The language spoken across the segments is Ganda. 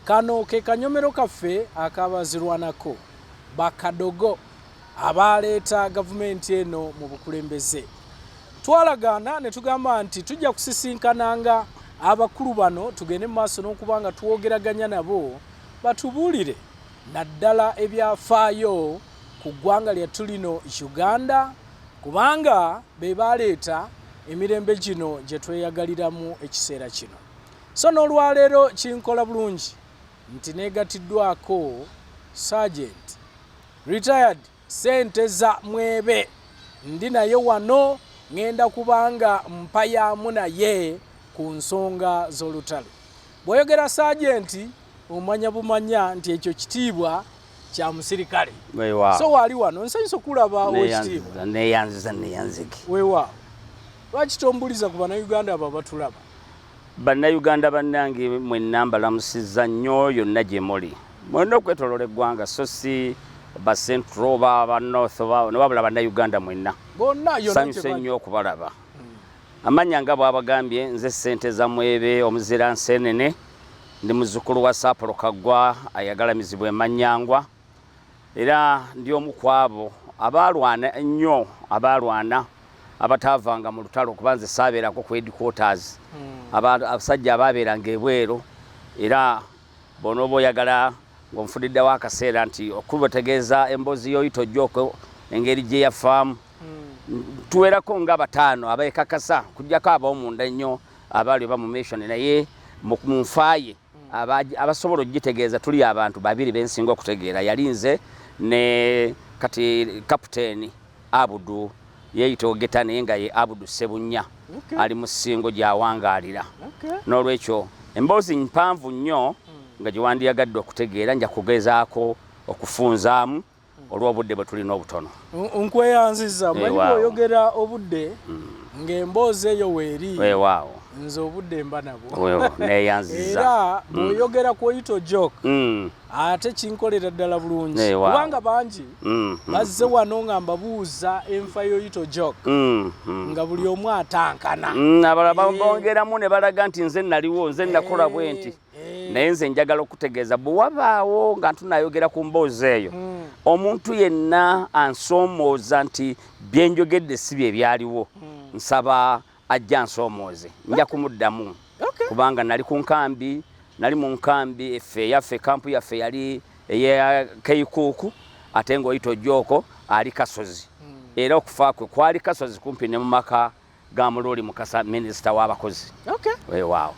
Kano ke kanyomero kaffe akabazirwanako bakadogo abaaleeta gavumenti eno mu bukulembeze. Twalagaana ne tugamba nti tujja kusisinkananga abakulu bano tugende mu maaso n'okuba nga twogeraganya nabo batubuulire naddala ebyafaayo ku ggwanga lyattu lino Uganda kubanga be baaleeta emirembe gino gye tweyagaliramu ekiseera kino. So n'olwaleero kinkola bulungi nti negatiddwako Sergeant retired sente za mwebe ndi naye wano ngenda kubanga mpayamu naye ku nsonga z'olutalo. Bwoyogera Sergeant omanya bumanya nti ekyo kitiibwa kya musirikale so waali wano nsanyusa okulaba owekitiibwa neyanziza neyanziki weewaawo lwaki tombuliza ku bannayuganda abo abatulaba bannayuganda bannange mwenna mbalamusiza nnyo yonna gye muli mwena okwetolola eggwanga so si bacentro oba banorth newabula bannayuganda mwenna sanyusa ennyo okubalaba Amanya nga bwabagambye nze sente za mwebe omuzira nsenene ndi muzukulu wa Sapulo Kagwa ayagala mizibu emanyangwa era ndi omu kwabo abaalwana ennyo abaalwana abataavanga mu lutalo kuba nze saabeerako ku headquarters hmm. abasajja abaabeeranga ebweru era Bw'onooba oyagala ng'onfudiddewo akaseera nti okubategeeza emboozi y'oyita ojjoko engeri gye yafaamu hmm. tuwerako nga bataano abeekakasa kujjako ab'omunda ennyo abaali oba mu mission naye mu nfaaye abasobola okugitegeeza tuli abantu babiri bensinga okutegeera yali nze ne kati kapiteeni Abudu yeeyita Ogeta naye nga ye Abudu Ssebunnya ali mu Ssingo gy'awangaalira. N'olwekyo emboozi mpanvu nnyo hmm. nga gye wandiyagadde okutegeera nja kugezaako okufunzaamu hmm. olw'obudde bwe tulina obutono. Nkweyanziza manyi oyogera obudde hmm. ng'emboozi eyo weeri. Weewaawo. Nze obudde mba nabwo. Weewo neeyanziza. Era bw'oyogera kw'oyita ojoke. ate kinkolera ddala bulungi eh, kubanga bangi mm, mm. bazze wano nga mbabuuza enfa yoyito jok mm, nga buli omu atankana abala eh. bongeramu ne balaga nti nze naliwo nze nakola eh, bwe nti naye nze njagala okutegeeza bwe wabaawo nga ntunayogera ku mboozi eyo omuntu yenna ansoomooza nti byenjogedde si bye byaliwo nsaba Ajje ansoomooze nja kumuddamu kubanga nali ku nkambi nali mu nkambi effe yaffe kampu yaffe yali eya keikuuku ate ng'oyita ojjooko ali kasozi hmm. era okufa kwe kwali kasozi kumpi ne mu maka ga muluuli mukasa minisita w'abakozi wewaawo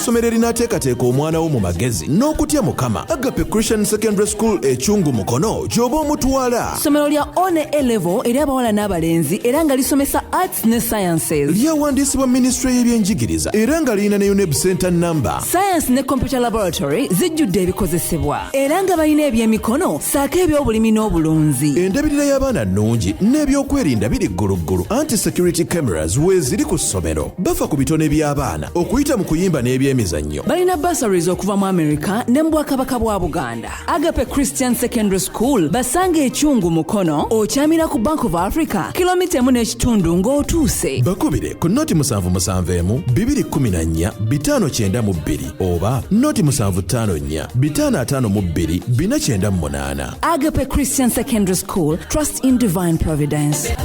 essomero erinaateekateeka omwana wo mu magezi n'okutya mukama agape christian secondary school ekyungu mukono gy'oba omutwala ssomero lya one elevo eri abawala n'abalenzi era nga lisomesa arts ne sciences lyawandiisibwa minisitule y'ebyenjigiriza era nga lirina ne uneb center number science ne computer laboratory zijjudde ebikozesebwa era nga balina ebyemikono saako ebyobulimi n'obulunzi endabirira y'abaana nnungi n'ebyokwerinda biri gguluggulu anti security cameras weeziri ku ssomero bafa ku bitone by'abaana okuyita mu kuyimba n'ebyemizannyo balina basaries okuva mu america ne mu bwakabaka bwa buganda agape christian secondary school basanga ekyungu mukono okyamira ku bank of africa kilomita emu n'ekitundu ng'otuuse bakubire ku noti musanvu musanvu emu bibiri kkumi na nnya bitaano kyenda mu bbiri oba noti musanvu ttaano nnya bitaano ataano mu bbiri bina kyenda mu munaana agape christian secondary school trust in divine providence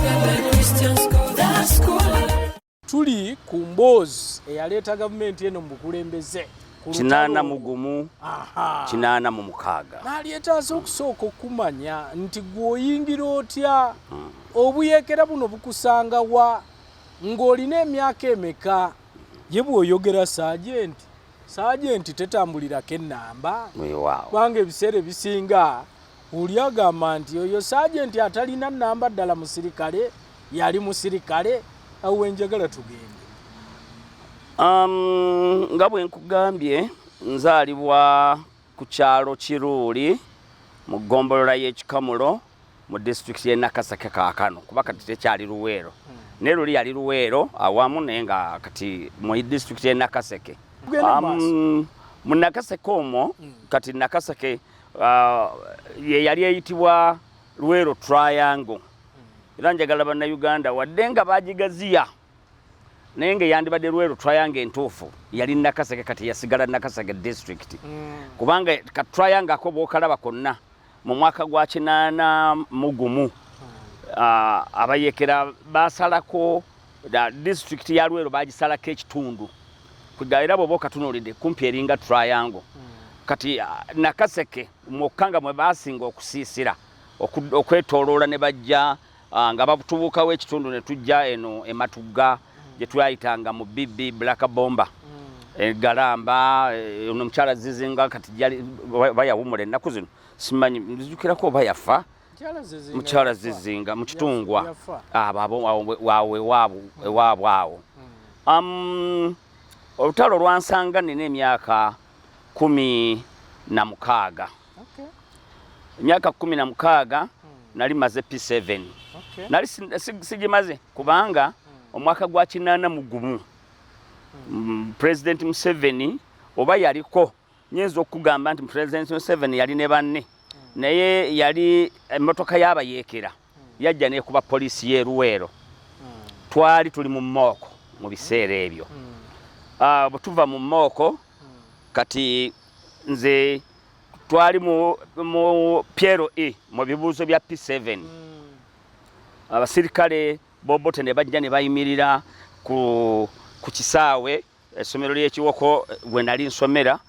tuli ku mboozi eyaleeta gavumenti eno mu bukulembeze kinaana mu gumu kinaana mu mukaaga nalyetaaze okusooka okumanya nti gweoyingira otya hmm. obuyekera buno bukusangawa ng'olina emyaka emeka Ye bw'oyogera saajenti, saajenti tetambulirako ennamba kubanga ebiseera ebisinga oli agamba nti oyo saajenti atalina nnamba ddala musirikale yali musirikale awo wenjagala tugende. Um, nga bwe nkugambye nzaalibwa ku kyalo Kiruuli mu ggombolola y'e Kikamulo mu disitulikiti y'e Nakaseke kaakano kuba kati tekyali Luweero hmm. ne luli yali Luweero awamu naye nga kati mu disitulikiti y'e Nakaseke. Um, mu Nakaseke omwo hmm. kati Nakaseke uh, ye yali eyitibwa Luweero Triangle hmm. era njagala Bannayuganda wadde nga bagigaziya naye nga eyandibadde lweru triangle entuufu yali nakasege kati yasigala nakasege district mm. kubanga ka triangle ako bwokalaba konna mu mwaka gwa kinaana mugumu mm. ah, abayekera basalako district ya lweru bagisalako ekitundu kuga era bwoba okatunulidde kumpi eringa triangle mm. kati ah, nakaseke mwokka nga mwe basinga okusiisira okwetoloola ne bajja Ah, nga batubuukawo ekitundu ne tujja eno ematugga mm. gye twayitanga mu bb black bomba mm. egalamba eh, ono omukyala zizinga kati jali oba yawumula ennaku zino simanyi nzijukirako oba yafa mukyala zizinga mu kitungwa awoewaabwe mm. awo olutalo olwansanga nina emyaka kumi na mukaaga emyaka kumi na mukaaga hmm. nali maze p7 nali sigimaze kubanga hmm. omwaka gwa kinaana mu gumu hmm. pulezidenti museveni oba yaliko nyinza okugamba nti pulezidenti museveni yali ne banne naye yali emmotoka y'abayeekera yajja nekuba poliisi y'e Luweero twali tuli mu mooko mu biseera ebyo ah, bwe tuva mu mooko kati nze twali mu piero e mu bibuuzo bya P7 abasirikale bobote ne bajja ne bayimirira ku kisaawe Essomero ly'ekiwoko we nali nsomera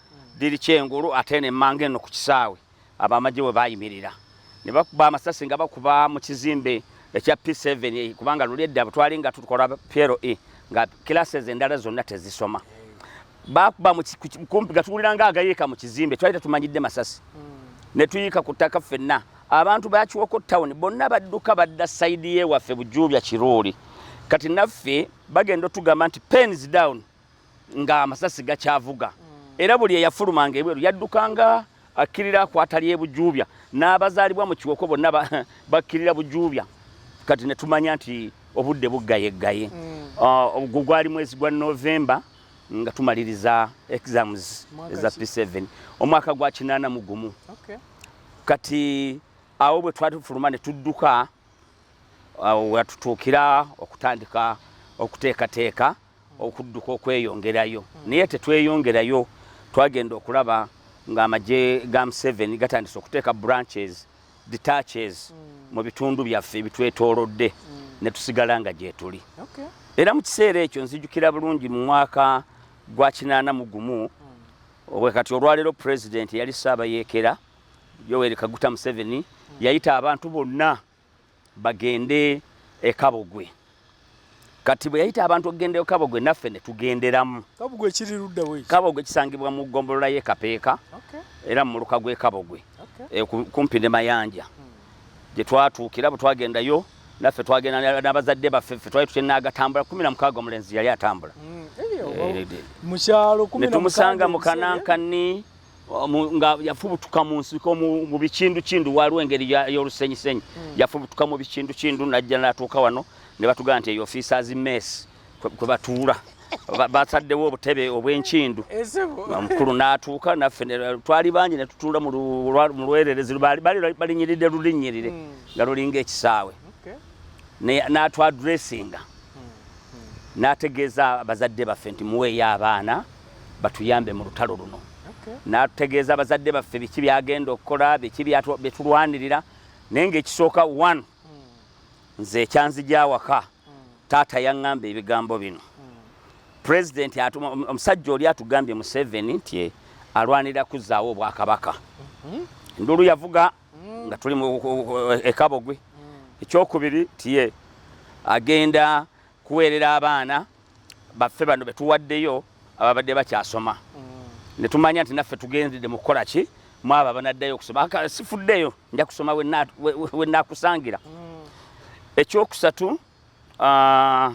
liri kyengulu ate ne mmanga eno ku kisaawe abamagye we baayimirira ne bakuba amasasi nga bakuba mu kizimbe ekya P7 eh, kubanga luli edda butwali nga tukola PLE nga classes endala zonna tezisoma bakuba kumpi nga tuwulira nga agayiika mu kizimbe twali tetumanyidde masasi hmm. ne tuyiika ku ttaka ffenna abantu bakiwoko town bonna badduka badda sayidi ye waffe bujuubya kiruuli kati naffe bagenda otugamba nti pens down nga amasasi gakyavuga mm. era buli eyafulumanga ebweru yaddukanga akkirira akwata ly'ebujuubya n'abazaalibwa mu kiwoko bonna bakkirira bujuubya kati ne tumanya nti obudde buggayeggaye mm. ah, ogwo gwali mwezi gwa novemba nga tumaliriza exams eza p7 omwaka gwa kinaana mu gumu kati awo bwe twali tufuluma ne tudduka awo watutuukira okutandika okuteekateeka okudduka okweyongerayo hmm. naye tetweyongerayo twagenda okulaba ng'amagye ga museveni gatandise okuteeka branches detaches hmm. mu bitundu byaffe ebitwetoolodde hmm. ne tusigala nga gyetuli era mu kiseera ekyo nzijukira bulungi mu mwaka gwa kinaana mu gumu obwe kati olwaleero pulezidenti yali saabayeekera Yoweri Kaguta Museveni yayita abantu bonna bagende e Kabogwe. Kati bwe yayita abantu okugenda e Kabogwe naffe ne tugenderamu. Kabogwe kiri ludda we? Kabogwe kisangibwa mu ggombolola y'e Kapeeka era mu muluka gw'e Kabogwe eh, kumpi ne Mayanja hmm. gye twatuukira bwe twagendayo naffe twagenda n'abazadde baffe ffe twali tutya n'agatambula kumi na mukaaga omulenzi yali atambula hmm, eh, eh, mu kyalo kumi na mukaaga ne tumusanga mu Kanankani nga yafubutuka mu nsiko mu bikindukindu waliwo engeri y'olusenyisenyi hmm. yafubutuka mu bikindukindu najja natuuka wano ne batugamba nti eyo ofiisa azi meesi kwe batuula basaddewo obutebe obw'enkindu omukulu n'atuuka naffe twali bangi ne tutuula mu lwererezi balinyiridde lulinnyirire hmm. nga lulinga ekisaawe n'atwadressinga hmm. n'ategeeza bazadde baffe nti muweeyo abaana batuyambe mu lutalo luno n'atutegeeza abazadde baffe biki byagenda okukola biki byetulwanirira naye ngaekisooka one hmm. nze ekyanzigyawaka hmm. taata yaŋŋamba ebigambo bino hmm. pulezidenti omusajja oli atugambye museveni nti e, alwanirira kuzzaawo obwakabaka mhm. enduulu yavuga nga tuli ekabogwe ekyokubiri tiye agenda kuweerera abaana baffe bano betuwaddeyo ababadde bakyasoma mm. ne tumanya nti naffe tugendedde mu kukola ki mwabo abanaddayo okusoma sifuddeyo nja kusoma we nakusangira mm. ekyokusatu ah,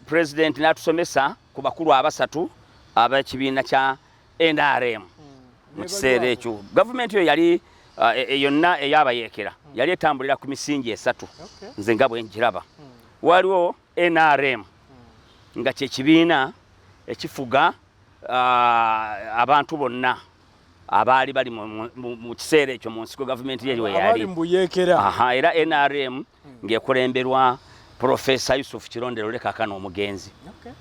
pulezidenti n'atusomesa ku bakulu abasatu ab'ekibiina kya nrm mm. mu kiseera ekyo gavumenti eyo yali ah, e, e, yonna eyabayeekera yali etambulira ku misingi esatu nze nga bwe njiraba waliwo nrm nga kyekibiina ekifuga uh, abantu bonna abaali bali mu kiseera ekyo mu nsiko gavumenti yeri weyali era nrm hmm. ng'ekulemberwa profesa yusuf kirondero lekakana omugenzi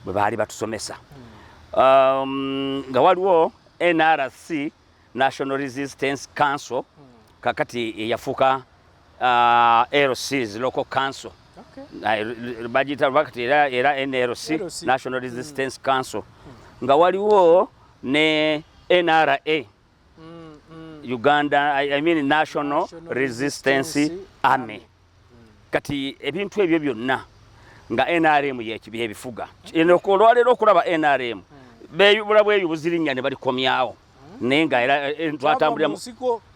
bwe baali batusomesa hmm. um, nga waliwo nrc National Resistance Council kakati eyafuka uh, LCs local council okay. bagiyita bakati era, era NLC, LC. National Resistance mm. Council mm. nga waliwo ne NRA mm, mm. Uganda I, I mean National, National Resistance, Resistance Army, Army. kati ebintu ebyo byonna nga nrm byebifuga olwaleero okulaba nrm bula bweyo buzirinya ne balikomyawo naye nga era eh, twatambuliramu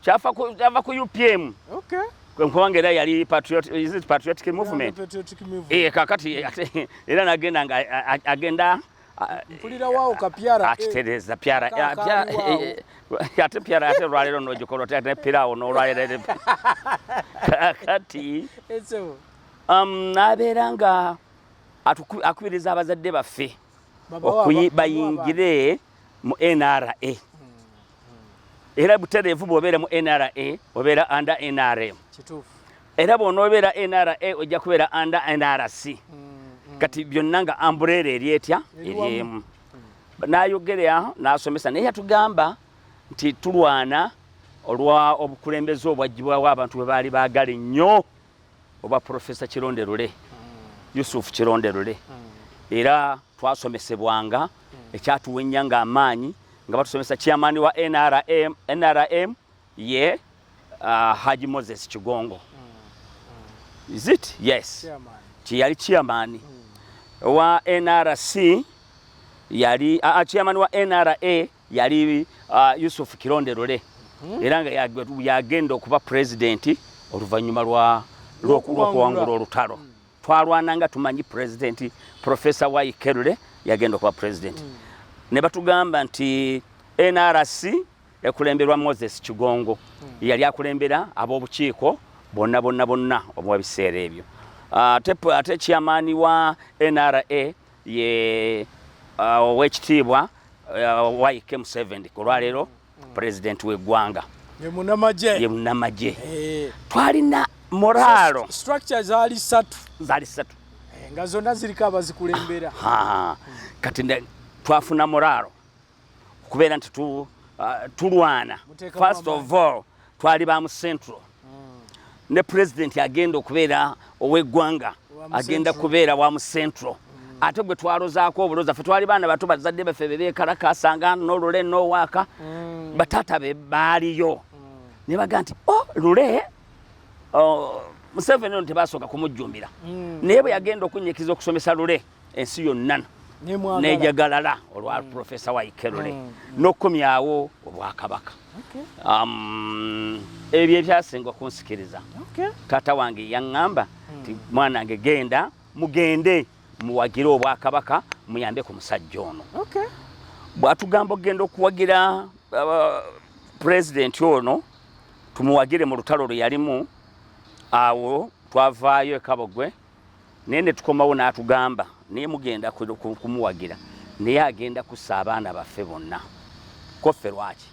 kyava ku upm kubanga era yali patriotic movement eh, kakati era nagenda nga agenda mpulira waawo kapyara eh. akitereeza pyara eh, eh, ate pyara ate olwaleero nogikola otya ne piraawo n'olwaleero kakati um, nabeera nga akubiriza abazadde baffe bayingire mu nra hmm, hmm. era butereevu bwobeera mu nra obeera under nrm era bw'onoobeera nra ojja kubeera under nrc mm, mm. kati byonna nga ambureera eri etya eri emu n'ayogerea n'asomesa naye yatugamba nti tulwana olwa obukulembeze obwagibwawo abantu bwe baali baagala ennyo obwa profesa kironde lule mm. yusuf kironde lule era twasomesebwanga ekyatuwenya nga amaanyi nga batusomesa chairman wa nrm nrm ye uh, Haji Moses Kigongo mm. mm. is it yes chairman. Chiyali chairman mm. wa NRC yali uh, chairman wa NRA yali uh, Yusuf Kironde Lule mm -hmm. era nga yagenda okuba president oluvannyuma lwa lwokuwangula olutalo mm. twalwana nga tumanyi president professor wa Ikerule yagenda okuba president mm. ne batugamba nti NRC ekulemberwa Moses Kigongo hmm. yali akulembera ab'obukiiko bonna bonna bonna obwa biseera ebyo ah, ate chairman wa NRA ye ah, owekitiibwa ah, Waike Museveni ku lwaleero hmm. president w'eggwanga ye munamagye eh. twalina moraalo structure zaali satu zaali satu eh, nga zonna ziriko abazikulembera kati twafunamu raaro okubeera nti uh, tulwana first of all twali ba mu central hmm. ne pulezidenti agenda okubeera ow'eggwanga agenda kubeera wa mu central hmm. ate gwe twalozaako obuloza fe twali baana bato bazadde baffe bebekalakasanga nolule nowaaka hmm. bataata be baaliyo ne baga nti o oh, lule oh, museveni ono tebasooka kumujjumbira naye bwe yagenda okunyikiza okusomesa lule ensi yonna nejagalala olwa mm. profesa waikerule mm. mm. nokukomyawo obwakabaka okay. um, ebyo ebyasinga okunsikiriza okay. taata wange yaŋŋamba nti mm. mwana wange genda mugende muwagire obwakabaka muyambe ku musajja ono okay. bwatugamba okugenda okuwagira uh, pulezidenti ono tumuwagire mu lutalo lwe yalimu awo twavaayo ekabogwe naye ne tukomawo n'atugamba naye mugenda kumuwagira naye agenda kussa abaana baffe bonna koffe lwaki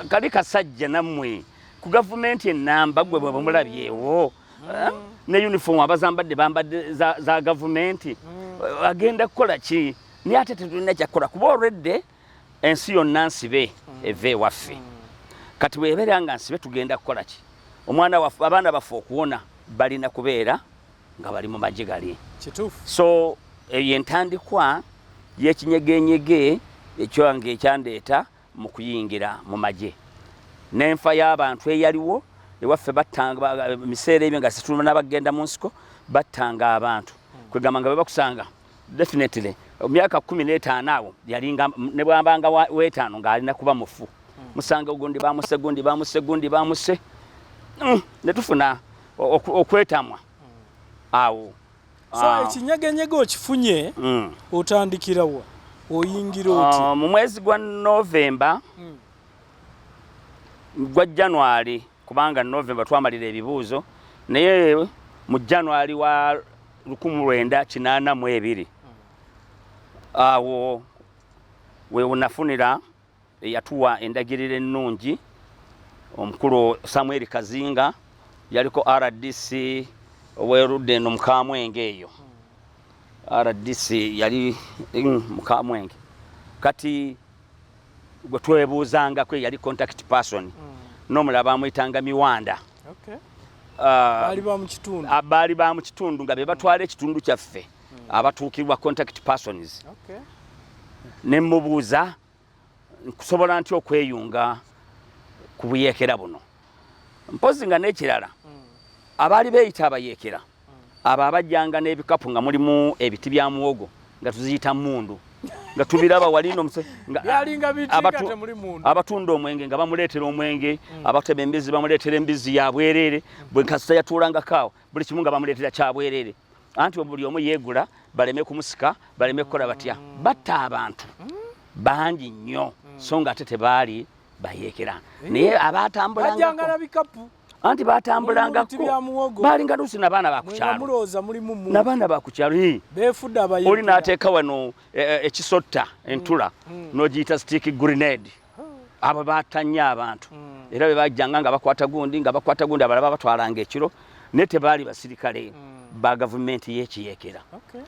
kali kasajja nammwe ku gavumenti enamba gwe bwebamulabyewo mm. eh? ne uniform abazambadde bambadde za gavumenti mm. agenda kukola ki naye ate tetulina kyakukola kuba olwedde ensi yonna nsibe eva ewaffe kati bwebeera nga nsibe tugenda kukola ki omwana waffe abaana baffe okuwona balina kubeera nga bali mu magye gali so eyo entandikwa yekinyegenyege ekyange ekyandeeta mu kuyingira mu magye n'enfa y'abantu eyaliwo ewaffe battanga miseera ebyo nga situluma n'abagenda mu nsiko battanga abantu kwegamba nga bebakusanga definitely myaka kumi n'etaano awo yalinga ne bwambanga w'etaano ng'alina kuba mufu hmm. musanga ogundi bamuse gundi bamuse gundi bamuse hmm, ne tufuna okwetamwa hmm. awo so ah. ekinyegenyege okifunye otandikira wa oyingira ah, oti mu mwezi gwa novemba gwa january kubanga November twamalira ebibuuzo naye mu January wa 1982 awo we unafunira eyatuwa endagiriro ennungi omukulu Samuel Kazinga yaliko RDC owerudde eno mukamwenge eyo RDC yali mm, mukamwenge kati gwe twebuuzangako eyali contact person mm. n'omulala bamuyitanga miwanda baali uh, ba mu kitundu nga be batwala ekitundu kyaffe mm. abatuukirwa contact persons ne mubuuza nkusobola nti okweyunga ku buyeekera buno mpozi nga n'ekirala mm. abaali beeyita abayeekera abo abajjanga n'ebikapu nga mulimu ebiti bya muwogo nga tuziyita mundu nga tubiraba walino abatunda omwenge nga bamuleetera omwenge mm. abatema embizzi bamuleetera embizzi ya bwereere bwe kasita yatuulangakaawo buli kimu nga bamuleetera kya bwereere anti buli omu yeegula baleme kumusika baleme kukola batya mm. batta abantu mm. bangi nnyo so nga ate tebaali bayeekera eh. naye abaatambulanga anti batambulanga ko balinga lusi na bana ba kuchalo muloza muli mumu na bana ba kuchalo hi befuda ba yuli na ateka wano ekisotta e, e, e entula mm, mm. no jita stick grenade oh. aba batanya abantu mm. era be bajanga nga bakwata gundi nga bakwata gundi abalaba batwalanga ekiro nete bali basirikale mm. ba government yechi yekera okay.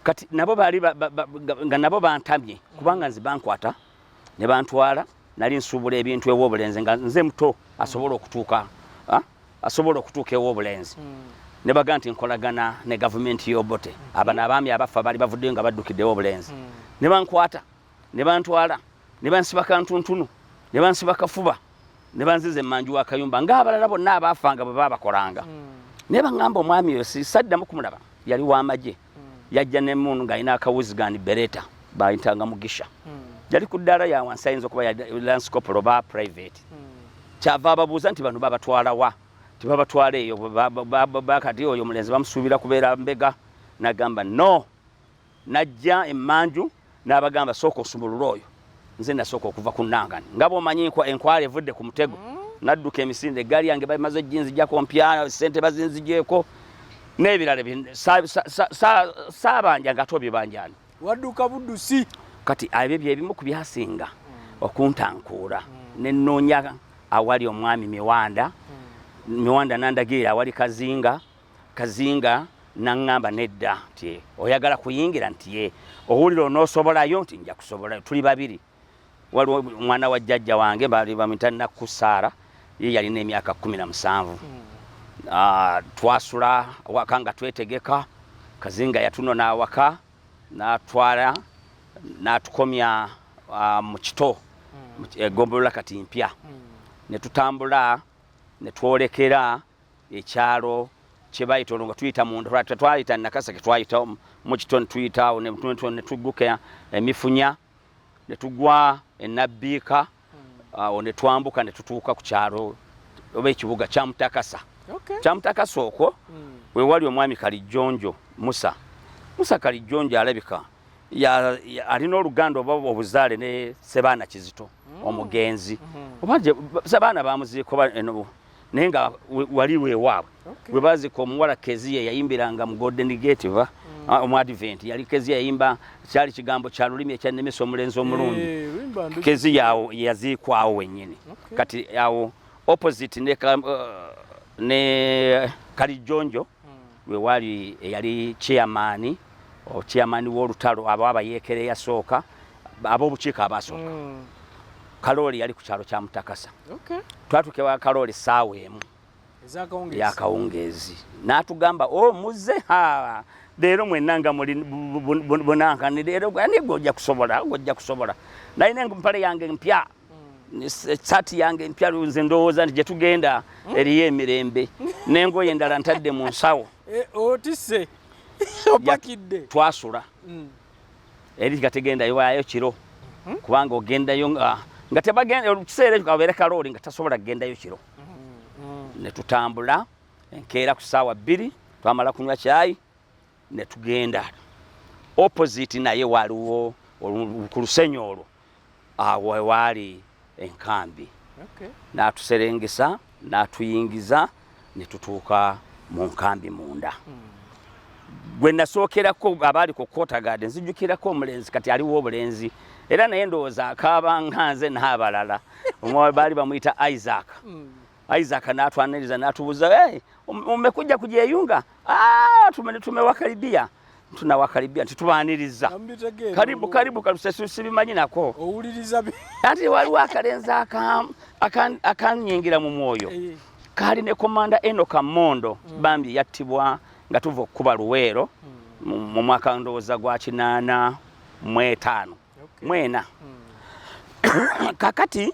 kati nabo bali ba, ba, ba, nga nabo bantamye kubanga nzi bankwata ne bantwala nali nsuubula ebintu ew'obulenzi nga nze muto asobola okutuuka asobola okutuuka ew'obulenzi hmm. ne baga nti nkolagana ne gavumenti y'obote abano abaami abaffa bali bavuddeyo nga baddukiddewo obulenzi hmm. ne bankwata ne bantwala ne bansiba kantuntunu ne bansiba kafuba ne banziza emmanju wa kayumba ng'abalala bonna abaafanga bwe baabakolanga hmm. naye baŋŋamba omwami oyo sisaddamu kumulaba yali w'amagye yajja ne moon ng'alina akawuzigani bereta bayitanga mugisha hmm. yali ku ddaala ya wansi ayinza okuba landscope oba private hmm. kyava ababuuza nti bano babatwalawa tibabatwala eyo bakati oyo omulenzi bamusuubira kubeera mbega nagamba no najja emanju n'abagamba sooka osumulule oyo nze nasooka okuva ku nangani nga bwomanyi enkwala evudde ku mutego mm. nadduka emisinde eggaali yange bamaze ginzijako mpya sente bazinzijeeko n'ebirala saabanja nga ate obibanjani wadduka buddusi kati ebyo byebimu ku byasinga mm. okuntankuula mm. nenoonya awali omwami miwanda miwanda nandagiira awali kazinga kazinga naŋŋamba nedda nti oyagala kuyingira nti ye owulira onoosobolayo nti nja kusobola tuli babiri waliwo omwana wa jjajja wange baali bamita nakku saara ye yalina emyaka kumi na musanvu hmm. ah, twasula awaka nga twetegeka kazinga yatuno n'awaka n'atwala n'atukomya ah, mu kito hmm. egombolola kati mpya hmm. ne tutambula ne twolekera ekyalo kye bayita olwo nga tuyita munda lwati tetwayita nakaseke twayita mu kitone tuyita awo ne tugguka emifunya ne tugwa enabbiika hmm. awo ne twambuka ne tutuuka ku kyalo oba ekibuga kya mutakasa kya mutakasa okwo hmm. we wali omwami kalijjonjo musa musa kalijjonjo alabika alina oluganda oba obuzaale ne sebaana kizito hmm. omugenzi oba sebaana bamuziiko naye nga wali lwewaabwe okay. webazika omuwala keziya yayimbiranga mu golden gate va mm. ah, omuadvent yali keziya yayimba kyali kigambo kya lulimi ekyannemesa omulenzi omulungi hey, eh, keziya awo yaziikwawo wenyini okay. kati awo opposite ne, uh, ne kalijjonjo lwe waali eyali chairman o chairman w'olutalo abo abayeekera eyasooka ab'obukiiko abaasooka hmm. kalooli yali ku kyalo kya mutakasa twatuuka ewa kalooli saawa emu yakawungeezi n'atugamba o oh, muze ha leero mwenna nga muli bunankanire era gwe ani gwe ojja kusobola gwe ojja kusobola nalina empale yange mpya esaati yange empya nze ndowooza nti gyetugenda hmm? eriyo emirembe nengoye endala ntadde mu nsawo eh, otise opakidde twasula hmm. eri nga tegendayo waayo kiro hmm? kubanga ogendayo nga tebagenda ekiseera ekyo kabeere kalooli nga tasobola kugendayo kiro ne tutambula enkeera ku ssaawa bbiri twamala kunywa kyayi ne tugenda opposite naye waliwo ku lusenyi olwo awo waali enkambi okay. n'atuserengesa n'atuyingiza ne tutuuka mu nkambi munda mm. gwe nasookerako abaali ku kotagade nzijukirako omulenzi kati aliwo obulenzi era naye ndowooza akaaba nga nze n'abalala omwawe baali bamuyita isaac mm. Isaac n'atwaniriza n'atubuuza hey, um, umekuja kujeyunga ah, tumewakaribia tume tunawakaribia nti tubaniriza karibu karibu kalusesibimanyi nako owuliriza anti waliwo akalenzi akanyingira mu mwoyo eh. kaali ne komanda enoka mondo mm. bambi yattibwa nga tuva okukuba luweero mm. mu mwaka ndowooza gwa kinaana mwetaano mwena mm. kakati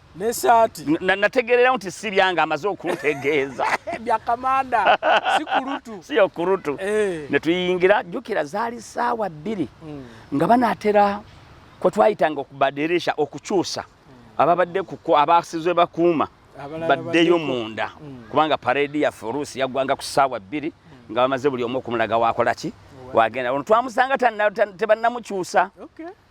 nesaati nategeererawo nti si byange amaze okuntegeeza byakamanda si kulutu si okurutu eh. ne tuyingira jjukira zaali saawa bbiri hmm. nga banaatera kwe twayitanga okubadirisha okukyusa hmm. ababadde kuko abaasizwe bakuuma baddeyo munda hmm. kubanga pareedi yaffe oluusi yaggwanga ku saawa bbiri nga bamaze buli omu okumulaga wakola ki wagenda ono twamusanga tebannamukyusa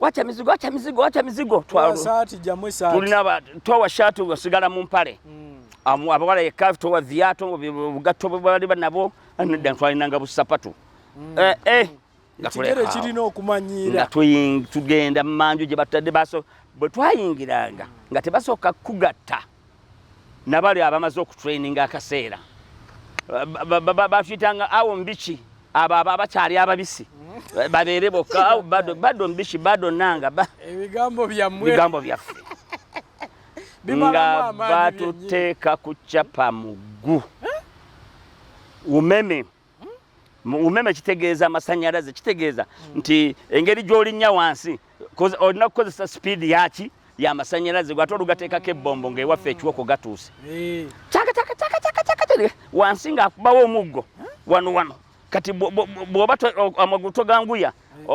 wacha mizigo wacha mizigo wacha mizigo twalo saati jamwe saati tulina ba towa shatu wasigala mu mpale mm. amu abawala yekafu towa viato bugato bali banabo anadda twalina nga busapatu mm. eh eh mm. kigere kirina okumanyira tugenda manju gye batadde baso bwe twayingiranga nga tebasooka kugatta nabali abamaze okutraininga akaseera bafitanga awo mubiki abo abo abakyali ababisi babeere bokka awo bado bado mubiki bado nanga ebigambo byammwe bigambo byaffe nga batuteeka ku capa muggu umeme umeme kitegeeza amasanyalaze kitegeeza mm. nti engeri gyolinya wansi olina kukozesa sipiidi yaki yamasanyalaze gwate olugateekako ebbombo ngaewaffe ekiwoko gatuuse eh. wansi ngaakubawo omuggo wano wano kati bwoba amagulu toganguya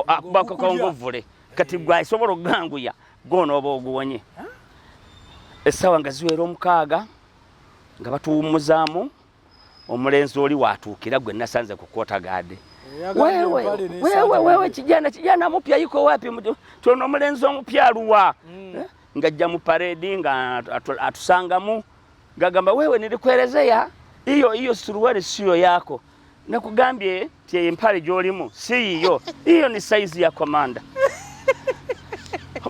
akubakokongovule kati gwasobola okuganguya gwona oba oguwonye essaawa nga ziwera omukaaga nga batuwummuzaamu omulenzi oli watuukira gwe nasanze ku kota gaade wewe kijana kijana mupya yuko wapi tuna omulenzi omupya aluwa mm. eh? ngajja mu paredi nga atusangamu ngagamba wewe nilikuelezea hiyo hiyo suruali siyo yako nakugambye Tie empale gyolimu si yiyo. Hiyo ni size ya komanda.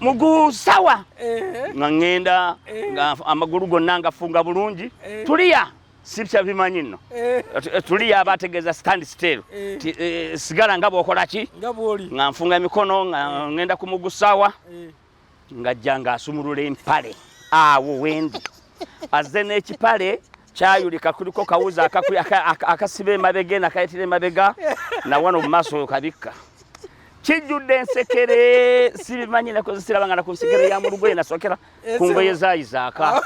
Muguu sawa. Eh. Nga ngenda eh. nga amagulu gonna ngafunga bulungi. Eh. Tulia. Sibya bimanyi nno. Tulia abategeeza stand still. Sigala nga bwokola ki? Nga bwoli. Nga nfunga emikono nga ngenda ku muguu sawa. ng'ajja ng'asumulula empale awo wendi azze n'ekipale kyayulika kuliko kawuzi akasiba emabega eno akayitira emabega nawano mu maaso oyo kabikka kijjudde ensekere sibimanyi nakozesera bangana ku nsekere ya mulugoye nasokera ku ngoye zayizaaka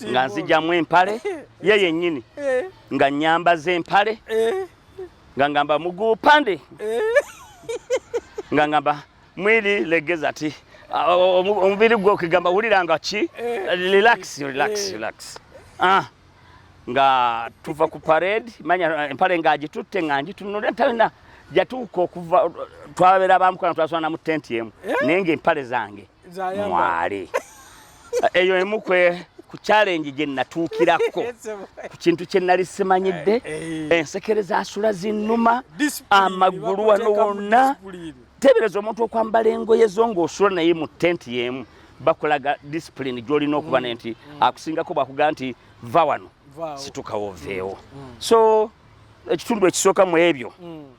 nga nzijamu empale ye yennyini eh. nga nyambaza empale eh. nga ngamba muguu pande eh. nga ngamba mwili legeza ti omubiri gwo kigamba wulira nga ki eh. relax relax eh. relax ah nga tuva ku parade manya empale nga agitutte nga ngitunula talina jatuuka okuva twabera bamukana twaswana mu tenti emu naye nga empale zange mwali eyo emu kwe ku challenge gye natuukirako ku kintu kye nali simanyidde eh, eh. ensekere zasula zinnuma amagulu wano wonna teebereza omuntu okwambala engoye zo ng'osula naye mu tenti y'emu bakulaga discipline gy'olina okuba ne mm, nti mm. akusingako bwakugaa nti va wano situkawo oveewo mm, so ekitundu ekisooka mu ebyo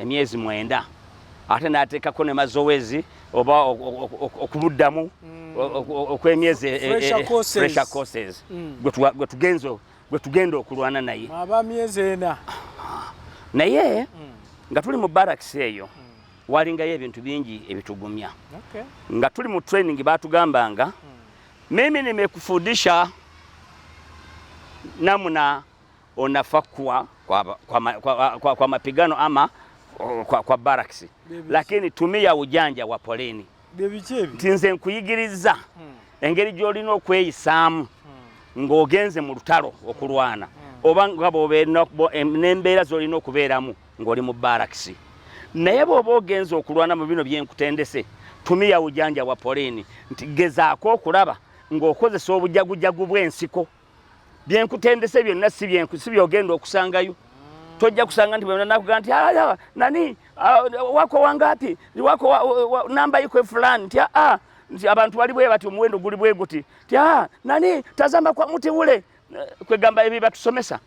emyezi mwenda ate nateekako ne mazowezi oba okumuddamu mm. okwemyezi e, e, e, pressure courses mm. gwetugenzo gwetugenda okulwana naye aba myezi ena naye mm. nga tuli mu barracks eyo walingayo ebintu bingi ebitugumya nga tuli mu training batugambanga mimi nimekufundisha namna unafa kwa, kwa, kwa, kwa, kwa, kwa mapigano ama kwa, kwa barracks, lakini tumia ujanja wa polini nti nze nkuyigiriza hmm. engeri gy'olina okweyisaamu hmm. ng'ogenze mu lutalo okulwana hmm. oba nga n'embeera z'olina okubeeramu ng'oli mu barakisi naye bw'oba ogenze okulwana mu bino byenkutendese tumiya ujanja wa polini nti gezaako okulaba ng'okozesa obujagujagu bw'ensiko byenkutendese byonna si byenku si byogenda okusangayo tojja kusanga nti bwenakuga nti ah, ah, nani ah, wako wangapi wako namba iko fulani nti aa nti abantu bali bwe bati omuwendo guli bwe guti nti aa nani tazamba kwa muti ule eh, kwegamba ebyo batusomesa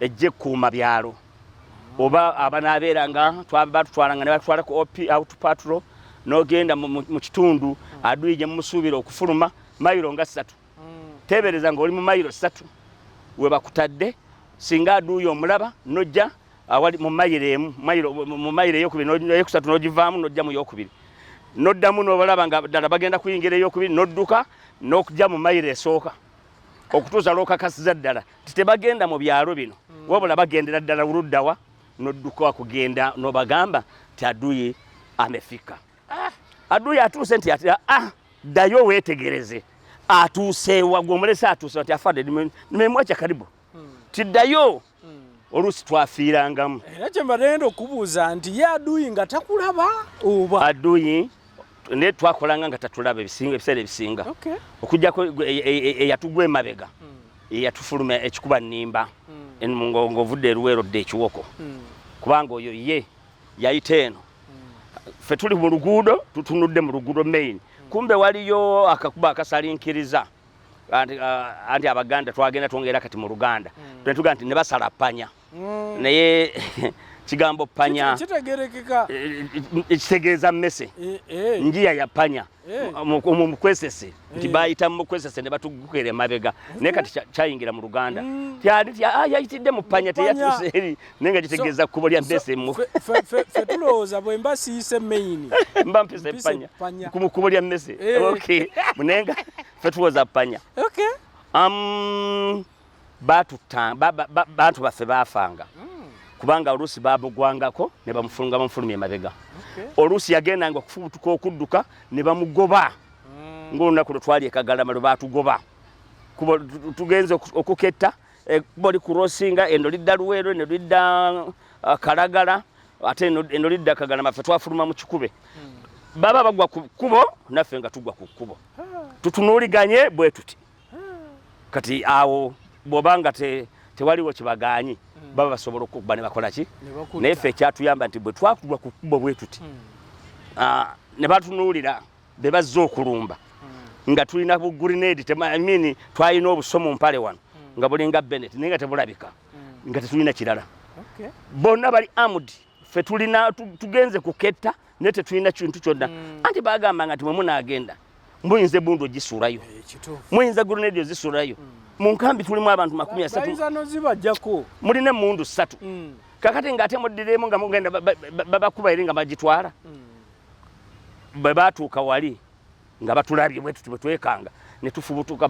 ejja ekkuuma byalo oba abanaabeera nga batutwalanga ne batwala ku op out patro n'ogenda mu kitundu aduyi gye mumusuubira okufuluma mayiro nga ssatu teebereza ng'oli mu mayiro ssatu we bakutadde singa aduuyi omulaba nojja awali mu mayiro emu mu mayiro eyokubiri eyokusatu n'ogivaamu nojja mu yokubiri noddamu nobalaba nga ddala bagenda kuyingira eyokubiri nodduka n'okujja mu mayiro esooka okutuusa lwokakasiza ddala ti tebagenda mu byalo bino mm. wabula bagendera ddala uluddawa nodduka kugenda nobagamba ti aduyi amefika ah. aduyi atuuse nti ati ah, ddayo wetegereze atuuseewa gwomulese atuuse nti afadde nimemwacha karibu hmm. ti ddayo hmm. oluusi twafiirangamu era kyembadenda okubuuza nti ye aduyi nga takulaba oba aduyi naye twakolanga nga tatulaba ebiseera ebisinga okujjako eyatugwa e, e, e, emabega hmm. eyatufuluma ekikuba nimba hmm. ngaovudde eruwero dde ekiwoko hmm. kubanga oyo ye yayita eno fe tuli mu luguudo tutunudde mu luguudo main kumbe waliyo akakuba akasalinkiriza anti uh, abaganda twagenda twongera kati mu luganda mm. tunetuga nti nebasala panya mm. naye kigambo panya kitegerekeka eh, eh, eh, kitegeeza mmese njiya ya panya mukwesese nti bayita mukwesese ne batugukera emabega naye kati kyayingira mu luganda mm. ah, yayitidde mu panya teyatuseeri naye nga kitegeeza kkubo lya mesemu fe tulowooza bwe mba siyise main mba mpise epanya mu kkubo lya mese eh. okay naye nga fe tulowooza panya okay um, bantu baffe baafanga hmm. kubanga oluusi bamugwangako ne bamufulunga bamufulumya emabega oluusi yagendanga okufubutuka okudduka ne bamugoba hmm. ng'olunaku lwe twali ekagalama lwe baatugoba tugenze okuketta ekkubo likurosinga eno lidda luweero eno lidda uh, kalagala ate eno lidda kagalama ffe twafuluma mu kikube hmm. baba bagwa ku kkubo naffe nga tugwa ku kkubo ah. tutunuuliganye bwe tuti ah. kati awo bwoba nga tewaliwo kibagaanyi hmm. baba basobola okukuba ne bakola ki naye ffe ekyatuyamba nti bwe twakugwa ku kkubo bwe tuti hmm. ah, ne batunuulira be bazze okulumba hmm. nga tulina bu grenade I mean twalina obusomu mpale wano hmm. nga bulinga Bennett naye nga tebulabika hmm. nga tetulina kirala bonna bali armed ffe tulina tugenze kuketta naye tetulina kintu kyonna anti bagamba nga nti mwe munaagenda muyinza ebundu ogisuulayo eh, muyinza grenade ozisuulayo mu nkambi tulimu abantu makumi asatu mulina emundu ssatu kakati nga ate muddiremu nga mugenda babakuba eri nga bagitwala bwe baatuuka wali nga batulabye bwe tuti bwe twekanga ne tufubutuka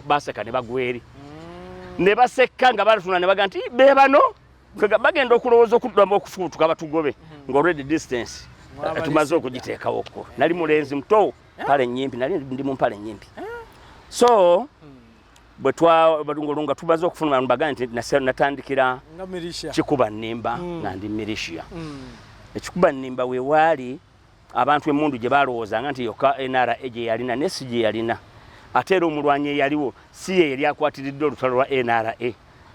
baseka ne bagwa eri mm. ne basekka nga balatuna ne baga nti be bano bagenda okulowooza okuddamu okufubutuka batugobe mm. nga already distance eh, tumaze okugiteekawoko nali mulenzi muto pale nyimpi nali ndi mu mpale nyimpi eh? so mm. bwe twalungu nga tumaze okufuna abantu bagane nti natandikira kikuba nnimba mm. nga ndi militia mm. ekikuba nnimba we waali abantu emundu gye balowoozanga nti yokka nra gye yalina ne si gye yalina ate era omulwanyi eyaliwo si ye yali akwatiridde olutalo lwa nra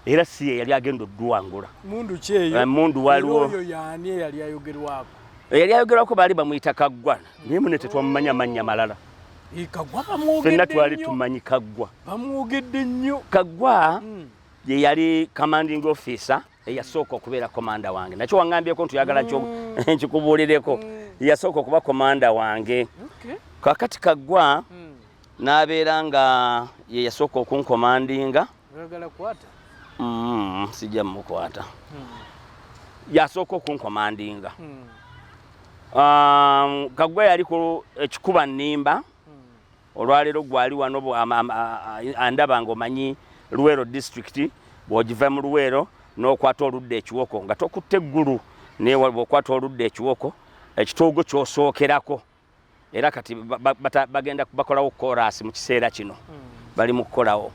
era si ye yali agenda oduwangula mundu kyeyo eh, mundu waliwo oyo yani yali ayogerwako yali ayogerwako baali bamuyita kaggwa naye mune tetwamumanya mannya malala fenna twali tumanyi kaggwa bamwogedde nnyo kaggwa hmm. ye yali commanding officer eyasooka okubeera komanda wange nakyo waŋambyeko nti oyagala hmm. nkikubuulireko hmm. yasooka okuba komanda wange kakati kaggwa n'abeera nga ye yasooka okunkomandinga okay. Oyagala kukwata? Mm, sijja mukwata. Hmm. Yasooka okunkomandinga. Hmm. Um, Kagwa yali ku ekikuba nnimba. Hmm. Olwaleero gwali wano andaba ng'omanyi Luweero district bw'ogiva mu Luweero n'okwata oludda ekiwoko nga tokutte eggulu naye bw'okwata oludda ekiwoko ekitoogo ky'osookerako. era kati bagenda bakolawo koraasi mu kiseera kino hmm. bali mu kukolawo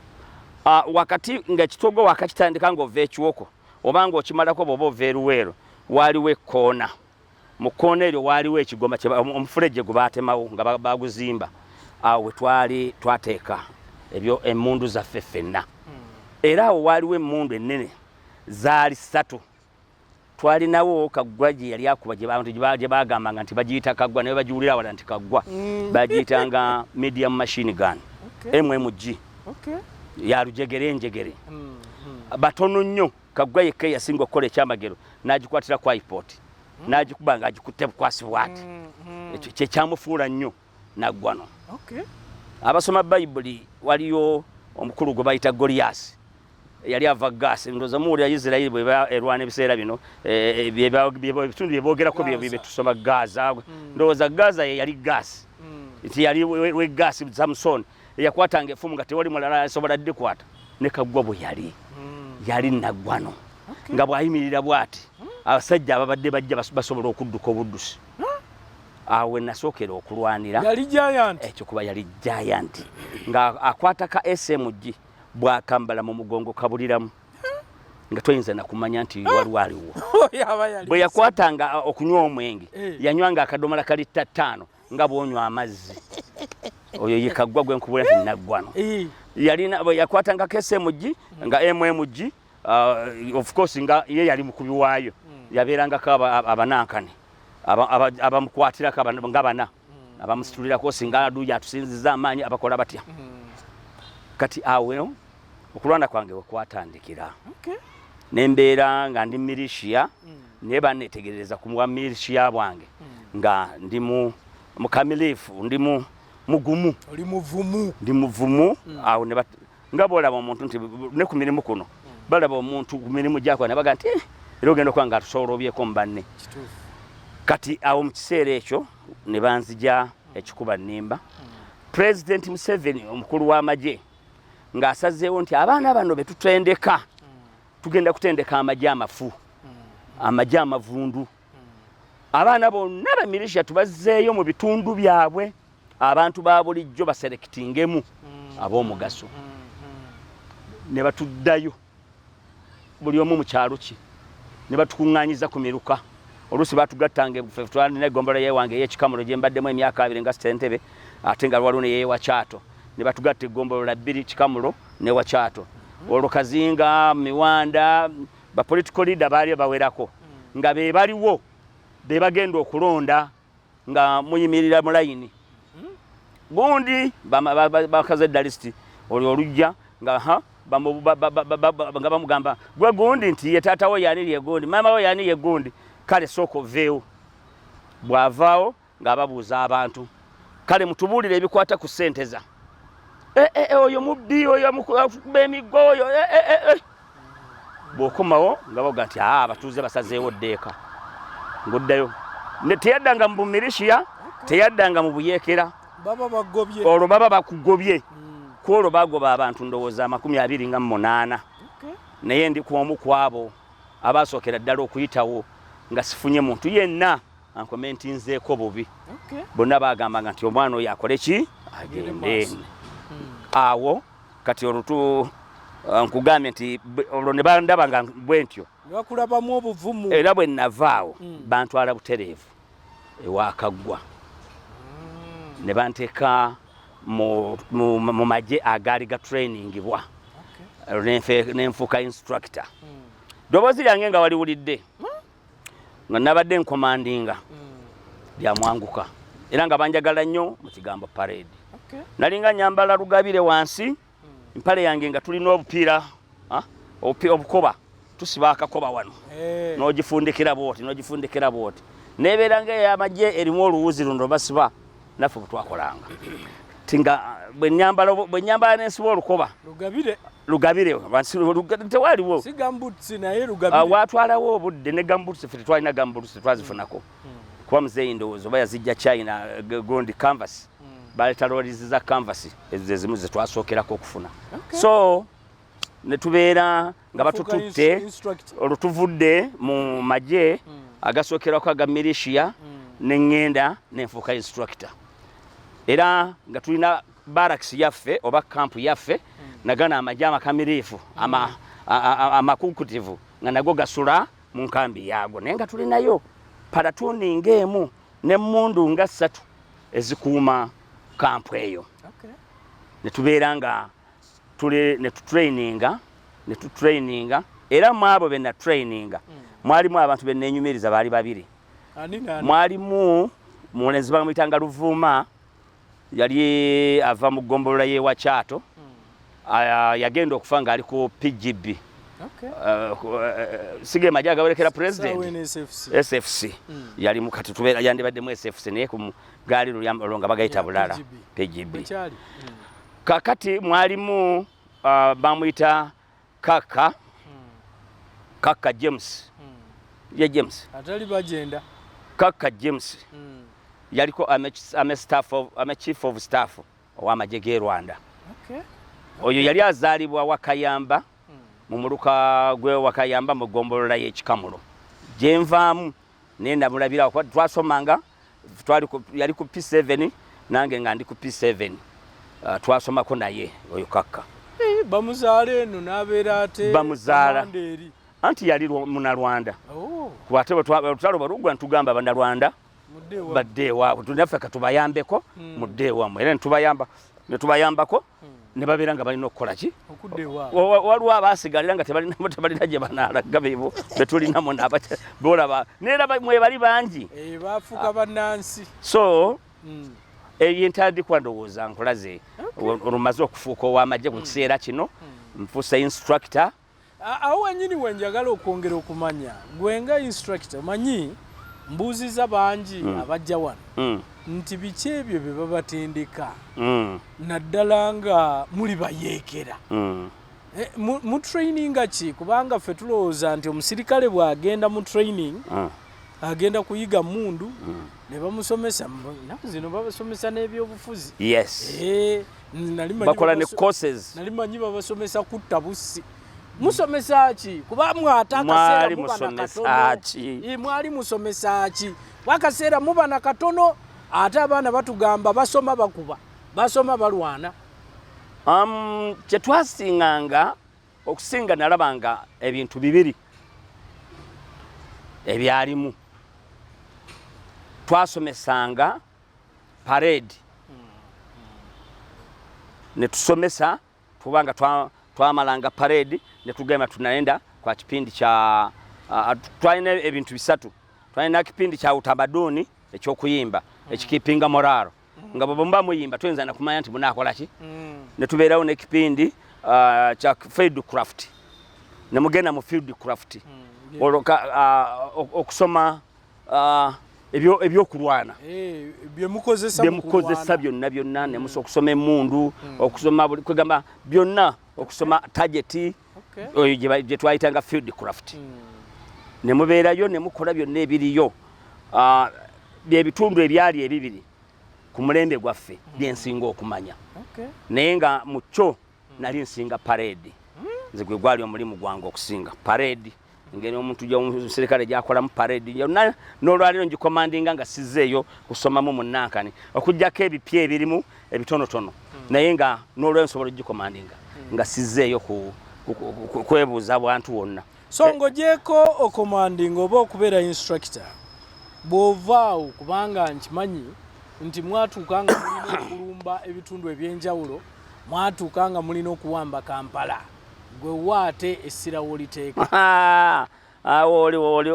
ah, wakati ngaekitogo wakakitandika ngaova ekiwoko oba nga okimalako bwoba ova eruweero waaliwo ekkoona mu kkoona eryo waaliwo ekigoma omufulejje gwe baatemawo nga baguzimba awo we twali twateeka ebyo emmundu zaffe ffenna hmm. era awo waaliwo emmundu ennene zaali ssatu twalinawo kaggwa gye yali akuba abantu gye bagambanga nti bagiyita kaggwa naye bagiwulira wala nti kaggwa mm. bagiyitanga medium machine gun mmg yalujegere enjegere mm, mm. batono nnyo kaggwa yekka eyasinga okukola ekyamagero n'agikwatira ku ipot n'agikuba nga agikutte bukwasi bwati ekyo kyekyamufuula nnyo naggwano abasoma bayibuli waliyo omukulu gwe bayita goliyasi yali ava gaasi ndoza muwulira isirairi bweba erwana ebiseera bino eh, ebitundu byebogerako byetusoma gaza hmm. ndowooza gaza yeyali gaasi hmm. nti yali wegaasi samusoni eyakwatanga efumu nga tewali mulala asobola dikwata nekaggwa bwe yali hmm. yali naggwano nga bwayimirira bwati abasajja ababadde bajja basobola okudduka obuddusi awo wenasookera okulwanira yali giant ekyo kuba yali giant nga akwata ka smg bwakambala mu mugongo kabuliramu nga toyinza nakumanya nti ah! waliwo aliwo oh, bwe yakwatanga uh, okunywa omwenge eh. yanywanga akadomola kali ttattaano nga bwonywa amazzi oyo yekaggwa gwenkubula tinaggwano eh. yalina yakwatanga ka smg nga mmg uh, of course nga ye yali mukubi waayo hmm. yabeerangako abanankani abamukwatirako nga bana hmm. abamusitulirako singa aduuyi atusinziza amaanyi abakola batya hmm. kati awo okulwana kwange wekwatandikira nembeera nga ndi milishiya naye banetegereza ku bwa milishiya bwange nga ndi mukamilifu ndi mugumu ndi muvumu awo nga bwolaba omuntu nti ne ku mirimu kuno balaba omuntu ku mirimu gyakola ne baga nti eh, era ogenda okuba nga atusoolobyeko mu banne kati awo mu kiseera ekyo ne banzija ekikuba nnimba pulezidenti museveni omukulu w'amagye ng'asazeewo nti abaana bano be tutendeka tugenda kutendeka amagye amafu amagye amavundu abaana bonna be militia tubazzeeyo mu bitundu byabwe abantu ba bulijjo baserekitingemu mm. ab'omugaso mm, mm. ne batuddayo buli omu mu kyalo kye ne batukuŋŋanyiza ku miruka oluusi batugattanga ebufe twalina eggombolola yewange ey'ekikamulo gye mbaddemu emyaka abiri nga sitentebe ate nga lwaliwo ne yeewa kyato ne batugatta eggombolola bbiri kikamulo ne wa kyato olwo kazinga miwanda ba political leader baali bawerako nga be baliwo be bagenda okulonda nga muyimirira mu layini gundi bakaze dalisiti olwo olujja nga ha nga bamugamba gwe gundi nti ye taata wo yani lye gundi maama wo yani ye gundi kale sooka oveewo bw'avaawo nga ababuuza abantu kale mutubuulire ebikwata ku ssente za eh, eh, eh, oyo mubbi oyo amukuba emiggo oyo bw'okomawo nga boga nti aa abatuuze basazeewo ddeeka ng'oddayo teyaddanga mu bumirishiya teyaddanga mu buyeekera olwo baba bakugobye hmm. ku olwo bagoba abantu ndowooza amakumi abiri nga munaana naye ndi ku omu ku abo abaasookera ddala okuyitawo nga sifunye muntu yenna ankomentinzeeko bubi bonna bagambanga nti omwana oyo akole ki agende hmm. awo kati olutu uh, nkugambye nti olwo ne bandaba nga bwe ntyo bakulabamu obuvumu era bwe navaawo hmm. bantwala butereevu ewakaggwa hmm. ne banteeka mu magye agaali gatrainingibwa nenfuuka instructor ddoboozi lyange nga waliwulidde nga nabadde nkomandinga byamwanguka era nga banjagala nnyo mu kigambo parade nalinga nyambala lugabire wansi mpale yange nga tulina obupiira ah, obukoba tusiba akakoba wano eh. nogifundikira bwoti nogifundikira bwoti nebeera nga eyamagye erimu oluwuzi luno basiba naffe bwetwakolanga tinga bwenyambala bwenyambala nensiba olukoba lugabire lugabire tewaliwo ah, watwalawo obudde ne gambuts fe tetwalina gambuts tetwazifunako hmm. kuba muzeeyi ndowooza oba yazijja china eh, gondi canvas hmm. baleeta lorizi za canvas ezo zezimu zetwasookerako okufuna so netubeera nga batututte olwo tuvudde mu magye hmm. agasookerwako aga milishiya hmm. ne ŋŋenda nenfuuka instructor era nga tulina baraks yaffe oba kampu yaffe hmm. nagana amagye amakamiriifu amakukutivu nga nago gasula mu nkambi yaago naye nga tulinayo palatuni ng'emu n'emmundu nga ssatu ezikuuma kampu eyo ne tubeera nga tuli ne tutraininga ne tutraininga era mu abo be natraininga mm. mwalimu abantu be nnenyumiriza baali babiri mwalimu mulenzi bamuyitanga luvuuma yali ava mu ggombolola y'ewa kyato mm. yagenda okufa ng'ali ku pgb okay. uh, uh, sige maja agawerekera president sfc mm. yali mukati tubeera yandibaddemu sfc naye ku gaali lulya olwo nga bagayita bulala pgb mm. kakati mwalimu uh, ah, bamuyita kaka hmm. kaka james hmm. ye james atali bagenda kaka james hmm. yaliko ame, ame staff of, ame chief of staff owamagye ge rwanda okay. okay. oyo yali azaalibwa wakayamba hmm. mu muluka gwe wakayamba mu gombolola y'ekikamulo gyenvaamu naye namulabira kuba twasomanga twali yali ku P7 nange nga ndi ku P7 uh, twasomako naye oyo kakka hey, eh, bamuzaala eno nabeera ate bamuzaala anti yali munalwanda oh. kuba ate olutalo balugwa ntugamba banalwanda badde ewaabwe tunaffe katubayambeko hmm. mudde ewamu era netubayamba netubayambako hmm. ne babeera nga balina okukola ki waliwo abaasigalira nga tebalinamu tebalina gye banaalaga bebo betulinamu bolaba neera mwebali bangi eh, bafuuka ah. bannansi so hmm. ebyo entandikwa ndowooza nkulaze olumaze okufuuka ow'amagye mu hmm. kiseera kino nfuusa instructor Awo wenyini wenjagala okwongera okumanya gwe nga instructor manyi mbuuziza bangi mm. abajja wano mm. nti biki ebyo bye babatendeka mm. naddala nga muli bayeekera mm. Eh, mu training ki kubanga ffe tulowooza nti omusirikale bw'agenda mu training ah. agenda kuyiga mundu hmm. ne bamusomesa zino babasomesa n'ebyobufuzi yes eh, bakola ne courses nali manyi babasomesa kutta bussi musomesa ki kuba mwatakaseera mwali musomesa ki wakaseera muba na katono ate abaana batugamba basoma bakuba basoma balwana um, kyetwasinganga okusinga nalabanga ebintu bibiri ebyalimu twasomesanga parade ne tusomesa tubanga twamalanga twa parade ne tugenda tunaenda kwa kipindi cha uh, twalina ebintu bisatu twalina kipindi cha utamaduni ekyokuyimba mm. ekikipinga moraro mm. nga bwe mba muyimba tuyinza nakumanya nti munakola ki mm. ne tubeerawo n'ekipindi uh, kya field craft ne mugenda mu field craft mm. olwo uh, okusoma ah, ebyokulwana eh, byemukozesa byonna byonna hmm. nemusa okusoma emundu hmm. okusoma buli kwegamba byonna okusoma tageti oyo gyetwayitanga field craft hmm. nemubeerayo nemukola byonna ebiriyo ah, byebitundu ebyali ebibiri ku mulembe gwaffe byensinga okumanya naye nga mukyo nali nsinga parade nze gwe gwali omulimu gwange okusinga parade ngeri omuntu omuserikale gyakolamu parade yonna n'olwaliro ngikomandinga nga sizeeyo kusomamu munankani okujjako ebipya ebirimu ebitonotono hmm. naye nga n'olwaliro nsobola ogikomandinga hmm. nga sizeeyo kwebuuza bwantu wonna so eh. ng'ogyeko okomandinga oba okubeera instructor bw'ovaawo kubanga nkimanyi nti mwatuuka nga mulina okulumba ebitundu eby'enjawulo mwatuuka nga mulina okuwamba kampala Gwe wa ate essira w'oliteeka. Awo oli oli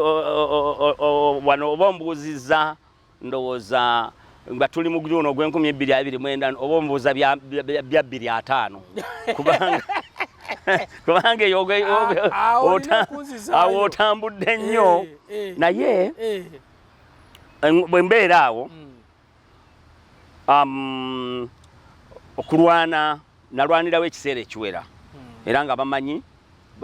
wano oba ombuuzizza ndowooza nga tuli mu guno ogw'enkumi ebbiri abiri mwenda oba ombuuza bya bbiri ataano kubanga kubanga eyo awo otambudde nnyo eh, eh, naye eh. bwe mbeera awo mm. um, okulwana nalwanirawo ekiseera ekiwera hmm. era nga bamanyi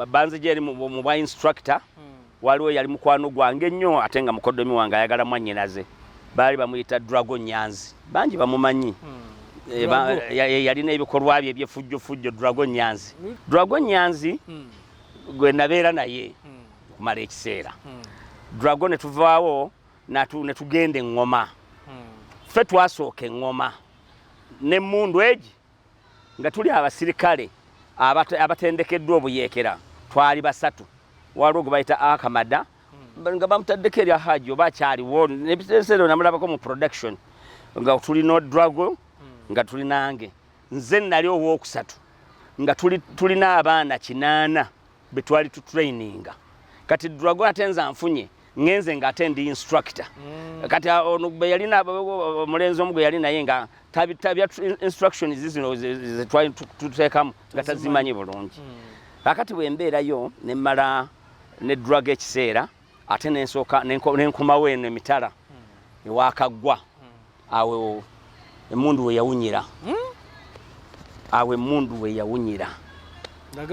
banzija eri mu bwa instructor hmm. waliwo yali mukwano gwange nnyo ate nga mukodomi wange ayagala mwanyinaze baali bamuyita drago nyanzi bangi bamumanyi hmm. eh, eh, yalina ebikolwa bye ebyefujjofujjo drago nyanzi drago nyanzi gwe nabeera naye okumala ekiseera drago ne tuvaawo natu ne tugenda eŋŋoma hmm. ffe twasooka eŋŋoma n'emmundu egi nga tuli abasirikale abatendekeddwa obuyeekera twali basatu waliwo gwe bayita akamada hmm. nga bamutaddeko erya haji oba akyaliwo nebiseera namulabako mu production nga tuli nodrago hmm. nga tuli nange nze nali owookusatu nga tulina abaana kinaana betwali tu traininga kati drago ate nze anfunye ngenze nga ate ndi instructor mm. kati ah, ono gwe yali na mulenzi omu gwe yali naye nga tabi tabi instruction zizino ze twali tutekamu nga tazimanyi bulungi mm. akati bwe mbeera yo ne mala ne drug ekiseera ate nensoka nenkomawo eno emitala mm. ewakagwa awo emundu we yawunyira hmm? awo emundu we yawunyira nga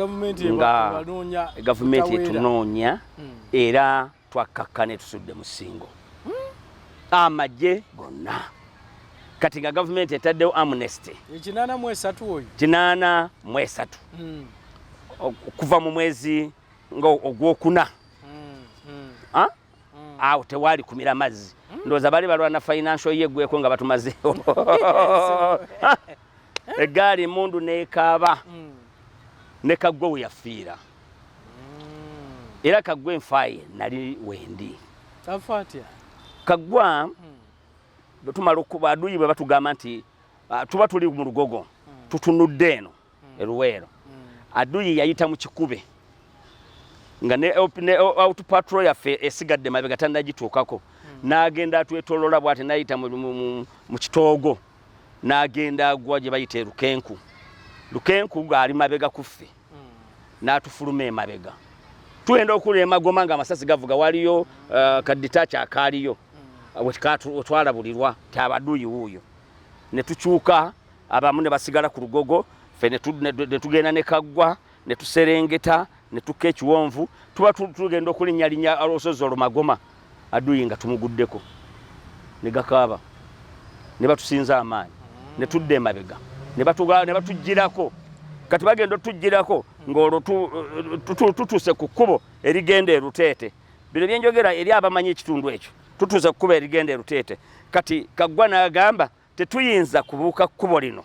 gavumenti etunoonya hmm. era twakkakka ne tusudde mu singo hmm? amagye gonna kati nga gavumenti etaddewo amnesty kinaana mu esatu oyo kinaana mu esatu okuva mu mwezi nga ogwokuna mm. awo tewaali kumira mazzi mm. ndowooza bali balwana financial ye gweko nga batumazeewo eggaali emundu nekaaba mm. ne kaggwe we yafiira mm. era kaggwe nfaaye nali wendi kaggwa bwetumala okuba aduyi bwe batugamba nti ah, tuba tuli mu lugogo tutunudde eno hmm. e Luweero hmm. Aduyi yayita mu kikube nga ne, ne out patrol yaffe esigadde mabega tannagituukako hmm. n'agenda atwetolola bw'ate n'ayita mu, mu, mu, mu kitoogo n'agenda agwa gye bayita e Lukenku Lukenku ng'ali mabega ku ffe n'atufuluma emabega tugenda okula emagoma nga amasasi gavuga waliyo uh, kaditaki akaaliyo wetwalabulirwa ti abaduyi wuuyo ne tukyuka abamu ne basigala ku lugogo fe ne tugenda ne kaggwa ne tuserengeta ne tukka ekiwonvu tuba tugenda okulinyalinya olusozi olumagoma aduyi nga tumuguddeko ne gakaaba ne batusinza amaanyi ne tudda emabega ne batugirako kati bagenda otugirako ng'olwo tutuuse ku kkubo erigenda eruteete bino byenjogera eri abamanyi ekitundu ekyo tutuuse ku kkubo erigenda eruteete kati kaggwa n'agamba Tetuyinza kubuuka kkubo lino,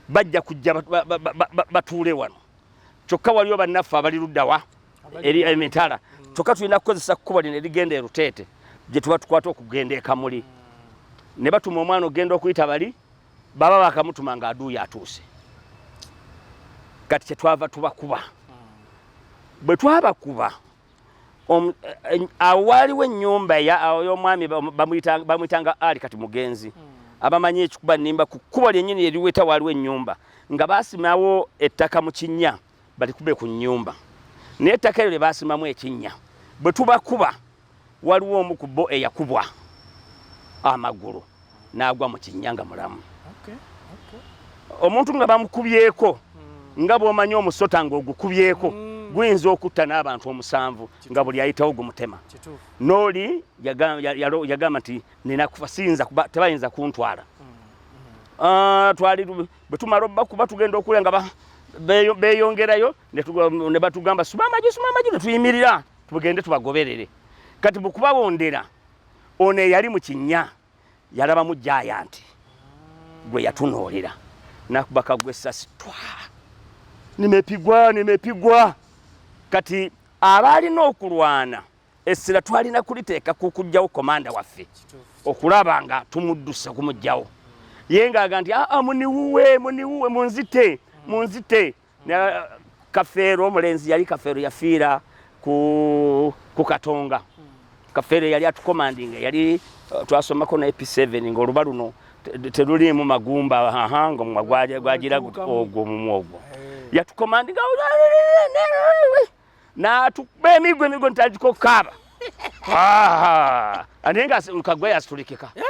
bajja kujja batuule wano. Kyokka waliwo bannaffe abali luddawa eri emitala, kyokka tulina kukozesa kkubo lino erigenda e Luteete gye tuba tukwata okugenda e Kamuli ne batuma omwana okugenda okuyita bali baba bakamutuma nga aduuyo atuuse kati kyetwava tubakuba bwe twabakuba awo waaliwo ennyumba y'omwami bamuyitanga ali kati mugenzi hmm. abamanyi ekikuba nimba ku kkubo lyennyini eriweta waaliwo ennyumba nga baasimawo ettaka mu kinnya balikube ku nnyumba naye ettaka eryo lye baasimamu ekinnya bwe tubakuba waliwo omu ku bo eyakubwa amagulu n'agwa mu kinnya nga mulamu omuntu nga bamukubyeko hmm. nga bw'omanyi omusota ng'ogukubyeko hmm. guyinza okutta n'abantu omusanvu nga buli ayitawo gumutema n'oli yagamba nti nina kufa siyinza kuba tebayinza kuntwala hmm. ah, twali bwe tumala obakuba tugenda okulya nga beeyongerayo ne batugamba suma amagi suma amagi ne tuyimirira tugende tubagoberere kati bwe kubawondera ono eyali mu kinnya yalabamu jayanti gwe yatunuulira nakubaka gwe essasi twa nimepigwa nimepigwa kati abaalina okulwana essira twalina kuliteeka ku kujjawo komanda waffe okulaba nga tumuddusa kumujjawo ye ngaaga nti aa ah, ah, muniwuwe muniwuwe munzite munzite Uh, kafeero omulenzi yali kafeero yafiira ku katonga kafeero yali atukomandinga yali uh, twasomako na ep7 ngaoluba luno teruliimu magumba ahanga omwa gwagira ogwo omumwa ogwo yatukomandinga natuba emigwa emigwa nitandika okukaaba ate nga kagwa yasitulikika eh?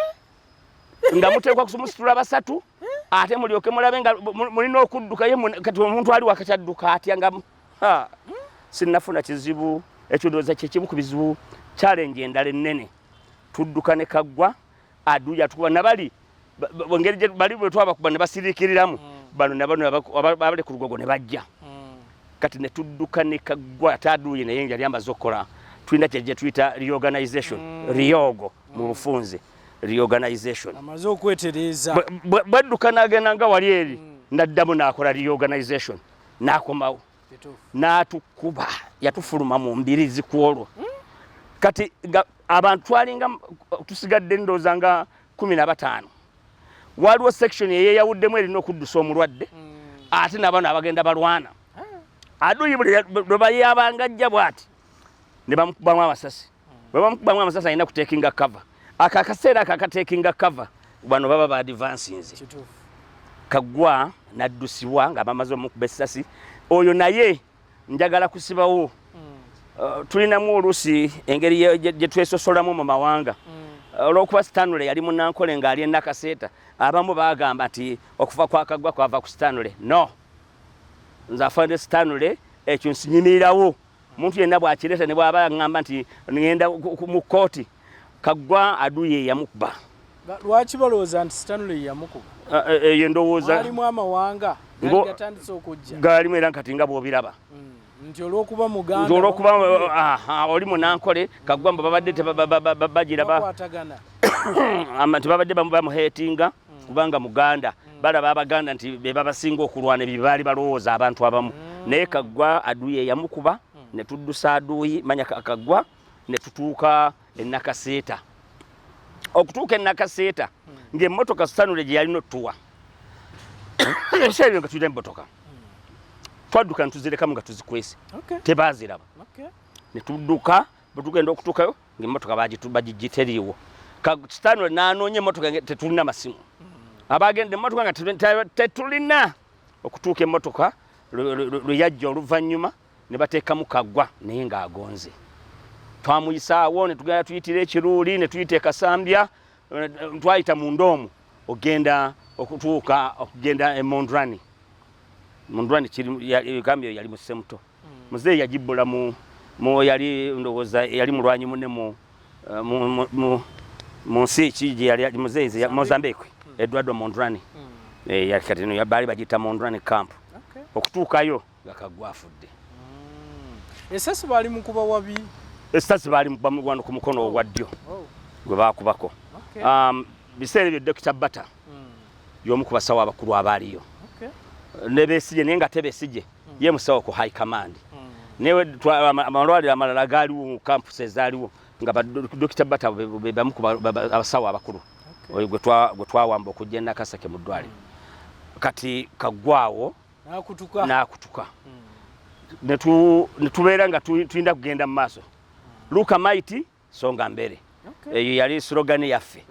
nga muteekwa kumusitula basatu ate mulyoke mulabe nga mulina okudduka ye kati omuntu ali wakati adduka atya nga sinnafuna kizibu ekyo ndowooza kyekimu ku bizibu challenge endala ennene tudduka ne kaggwa aduya tukuba nabali ngeri gye bali bwe twabakuba ne basiriikiriramu mm. bano nabano abali ku lugogo ne bajja mm. kati ne tudduka ne kaggwa ate aduye naye yali ambaze okukola tulina kye gye tuyita reorganization mm. riogo mu bufunze reorganization amaze okwetereeza bwadduka n'agenda nga wali eri mm. n'addamu n'akola reorganization n'akomawo n'atukuba yatufuluma mu mbirizi ku olwo mm. kati abantu twalinga tusigadde ndooza nga kumi na bataano waliwo section eyeyawuddemu erina okuddusa omulwadde mm. ate nabano abagenda balwana ah. aduyi buli lwebayabangajja bwati ne bamukubamu amasasi bwe bamukubamu amasasi alina kutekinga cover ako akaseera ako akatekinga cover bano baba ba advansinze kagwa naddusibwa nga bamaze omukuba essasi oyo naye njagala kusibawo hmm. uh, tulinamu oluusi engeri gye twesosolamu mu mawanga hmm. olwokuba stanley yali munankole ng'ali enakaseeta abamu bagamba nti okuva kwakagwa kwava ku stanley no nze afande stanley ekyo nsinyimirirawo Omuntu yenna bw'akireeta ne bw'aba aŋŋamba nti ŋŋenda mu kkooti, Kaggwa Adui ye yamukuba. Lwaki balowooza nti Stanley yamukuba? Ah, eh, eh, eyo endowooza alimu amawanga gatandise okujja galimu era kati nga bw'obiraba mm, nti olwokuba muganda olwokuba oli munankole kaggwa mbu babadde bagira nti babadde bamuheetinga mm. kubanga muganda mm. balaba abaganda nti bebabasinga okulwana ebyo baali balowooza abantu abamu mm. naye kaggwa aduyi eyamukuba mm. ne tuddusa aduyi manya kaggwa ne tutuuka enakaseeta okutuuka enakaseeta mm. ng'emmotoka sanule gye yalina otuwa ebiseera nga tulina emmotoka twadduka ne tuzirekamu nga tuzikwese tebaaziraba ne tudduka bwe tugenda okutuukayo ng'emmotoka bagijje teriiwo stanley n'anoonya emmotoka tetulina masimu abagenda emmotoka nga tetulina okutuuka emmotoka lwe yajja oluvannyuma ne bateekamu kaggwa naye ng'agonze twamuyisaawo ne tugenda tuyitira ekiruuli ne tuyita ekasambya twayita mu ndoomu okugenda okutuuka okugenda emondrani mondrani kiri yali musemuto muzeeyi yagibbula mu mu yali ndowooza yali mulwanyi mune mu eh, mu nsi ki gye yali muzeeyi mozambique hmm. eduardo mondrani hmm. eh, yakati no baali bagiyita mondrani camp okutuukayo nga kagwa afudde hmm. esasi baali mukuba wabi esasi baali wano ku mukono oh. ogwa ddyo oh. gwe baakubako um, biseera ebyo dokita bata y'omu ku basawo abakulu abaaliyo ne besigye naye nga tebesije mm. ye musawo ku high command mm. newe amalwaliro amalala gaaliwo mu campus ezaaliwo nga badokita bata bebamu abasawo abakulu oyo gwe twawamba okujja enakasake mu ddwaliro mm. kati kaggwawo n'akutuka netubeera nga tulina kugenda mu maaso luka maiti songa mbere okay. eyo yali slogan yaffe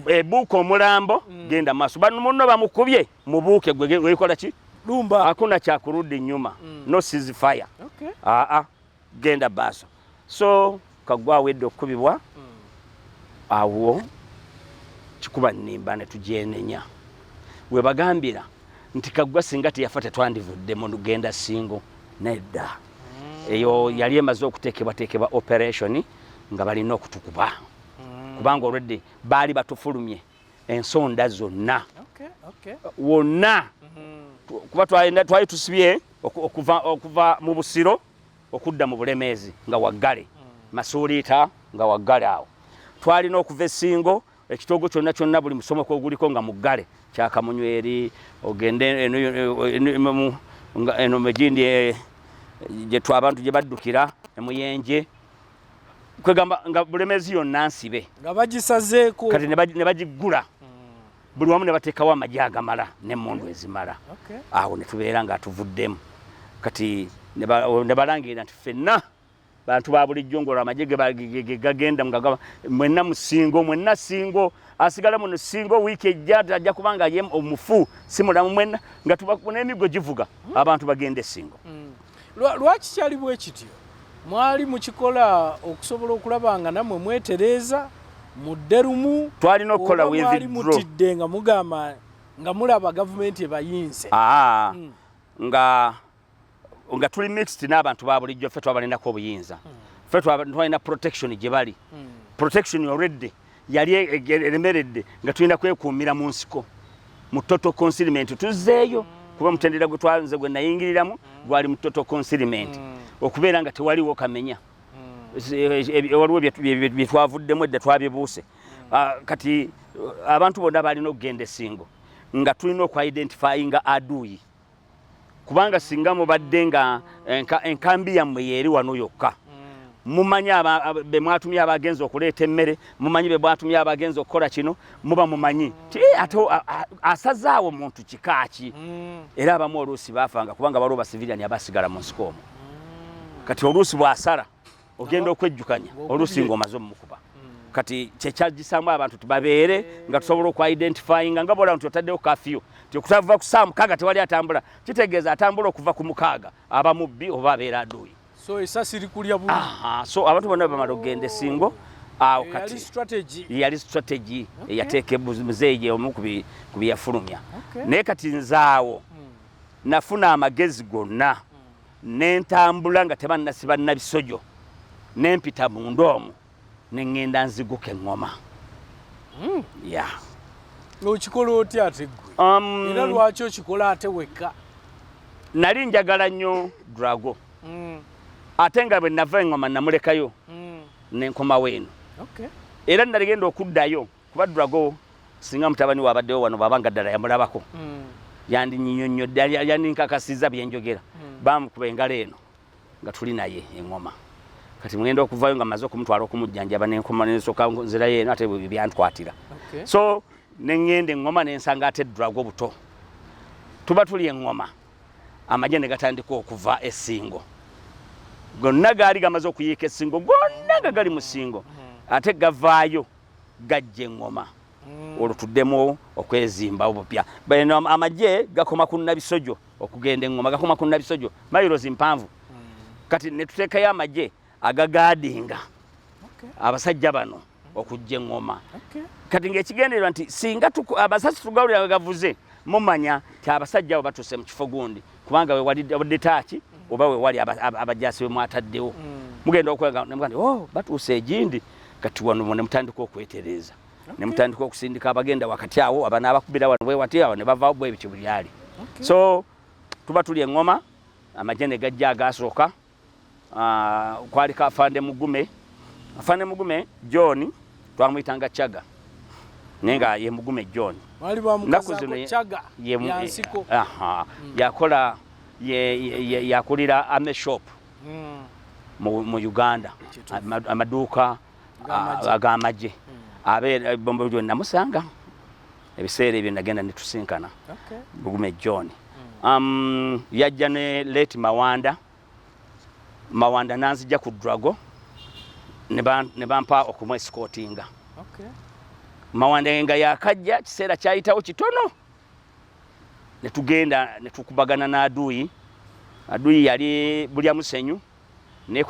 ebuuka omulambo mm. genda maaso bano munno bamukubye mubuuke gwe wekola ki lumba hakuna cha kurudi nyuma mm. no cease fire okay. aa ah, ah. genda baaso so kagwa wedde okukubibwa mm. awo kikuba nimba ne tujenenya webagambira nti kagwa singa teyafa tetwandivudde mu lugenda singo nedda mm. eyo yali emaze okuteekebwateekebwa operation nga balina okutukuba mm. kubanga olwedde baali batufulumye ensonda zonna wonna mm-hmm. kuba twali tusibye okuva mu busiro okudda mu bulemeezi nga waggale mm. masuuliita nga waggale awo twalina okuva esingo ekitoogo kyonna kyonna buli musomo kwoguliko nga muggale kyakamunyweri ogende eno mejindi eh, gyetw abantu gye baddukira emuyenje kwegamba nga bulemezi yonna nsibe nga bagisazeeko kati ne bagiggula hmm. buli wamu ne bateekawo amagi agamala n'emmundu ezimala awo ne tubeera nga tuvuddemu kati ne balangirira nti ffenna bantu ba bulijjo ngolwo amagye gegagenda mugagaba mwenna musingo mwenna singo asigala muno singo wiiki ejja ajja kubanga ye omufu si mulamu mwenna nga tubakunemigo givuga hmm. abantu bagende singo hmm. lwaki kyali bwe kityo mwali mukikola okusobola okulaba nga namwe mwetereeza mudde lumu twalina okukola mwali mutidde nga mugamba nga mulaba gavumenti ebayinze hmm. nga nga tuli mixed n'abantu ba bulijjo ffe twabalinako obuyinza hmm. ffe twalina protection gye bali hmm. protection already yali e-, e-, e-, eremeredde nga tulina kwekuumira mu nsiko mu total consignment tuzzeeyo hmm. kuba mutendera gwe twanze gwe nayingiriramu gwali mu total consignment okubeera nga tewaliwo kamenya waliwo bye twavuddemu edda twabibuuse ah, kati abantu bonna balina okugenda esingo nga tulina okwa identifyinga aduuyi kubanga singa mubadde nga enkambi yammwe yeeri wano yokka mm. mumanyi be mwatumye abagenza okuleeta emmere mumanyi be mwatumye abagenza okukola kino muba mumanyi ti eh, ate asazaawo muntu kika ki mm. era abamu oluusi baafanga kubanga waliwo basivilyani abasigala mu nsiko omu mm. kati oluusi bw'asala ogenda okwejjukanya oluusi ng'omaze omukuba hmm. kati kyekyagisaamu abantu tibabeere nga tusobola okuidentifyinga nga bola nti otaddewo kafiyu ti okutava ku saa mukaaga tewali atambula kitegeeza atambula okuva ku mukaaga aba mubbi oba abeera aduuyi so esasi likulya bu so abantu bonna bamala okugenda esingo awo eh, kati yali strategy eyateeka eh, muzeeyi omu ku byeyafulumya naye kati nzaawo hmm. nafuna amagezi gonna ne ntambula nga tebannasiba nabisojo ne mpita munda omu ne ŋŋenda nziguka eŋŋoma hmm. ya okikola otya ate gwe um, era lwaki okikola ate wekka nali njagala nnyo drago hmm. ate nga bwe nava eŋŋoma namulekayo hmm. nenkomawo eno era naligenda okuddayo kuba drago singa mutabani we abaddewo wano bwaba nga ddala yamulabako hmm. yandinyinyonnyodde yandinkakasiza byenjogera hmm. bamukuba engalo eno nga tuli naye eŋoma kati mugenda okuvayo nga maze okumutwala okumujjanjaba nenkoma nensoka nzirayo eno ate byankwatira so neŋŋenda eŋoma nensanga ate drago buto tuba tuli eŋoma amagye ne gatandika okuva esingo gonna gaali gamaze okuyiika esingo gonna nga gali mu singo hmm. ate gavaayo gajja eŋŋoma mm. olwo tuddemu okwezimba obupya bano amagye gakoma ku nabisojo okugenda eŋŋoma gakoma ku nabisojo mayirozi mpanvu mm. kati ne tuteekayo amagye agagaadinga abasajja bano okujja eŋŋoma kati ng'ekigendererwa nti singa abasasi tugalulira nga gavuze mumanya ti abasajja abo batuuse mu kifo gundi kubanga wewalidde taaki oba wewali abajasi bemwataddewo mm. mugenda okwega nemugandi o oh, batuusa egindi kati wano nemutandika okwetereeza nemutandika okusindika abagenda wakati awo abana abakubira wano bwewati awo nebavawo bwebityo bulyali so tuba tuli eŋoma amagye negajja agasooka Ah, kwali ka afande mugume afande mugume john twamuyitanga chaga naye nga ye mugume john naku zino eh, hmm. yakola yakulira ame shop hmm. mu uganda amaduuka agamagye ah, hmm. abeera eh, bombo namusanga ebiseera ebyo nagenda netusinkana okay. lugume john mm. um, yajja ne late mawanda mawanda nanzija ku drago ne bampa okumwesikotinga okay. mawanda nga yakajja kiseera kyayitawo kitono netugenda netukubagana n'aduyi aduyi yali bulya musenyu ne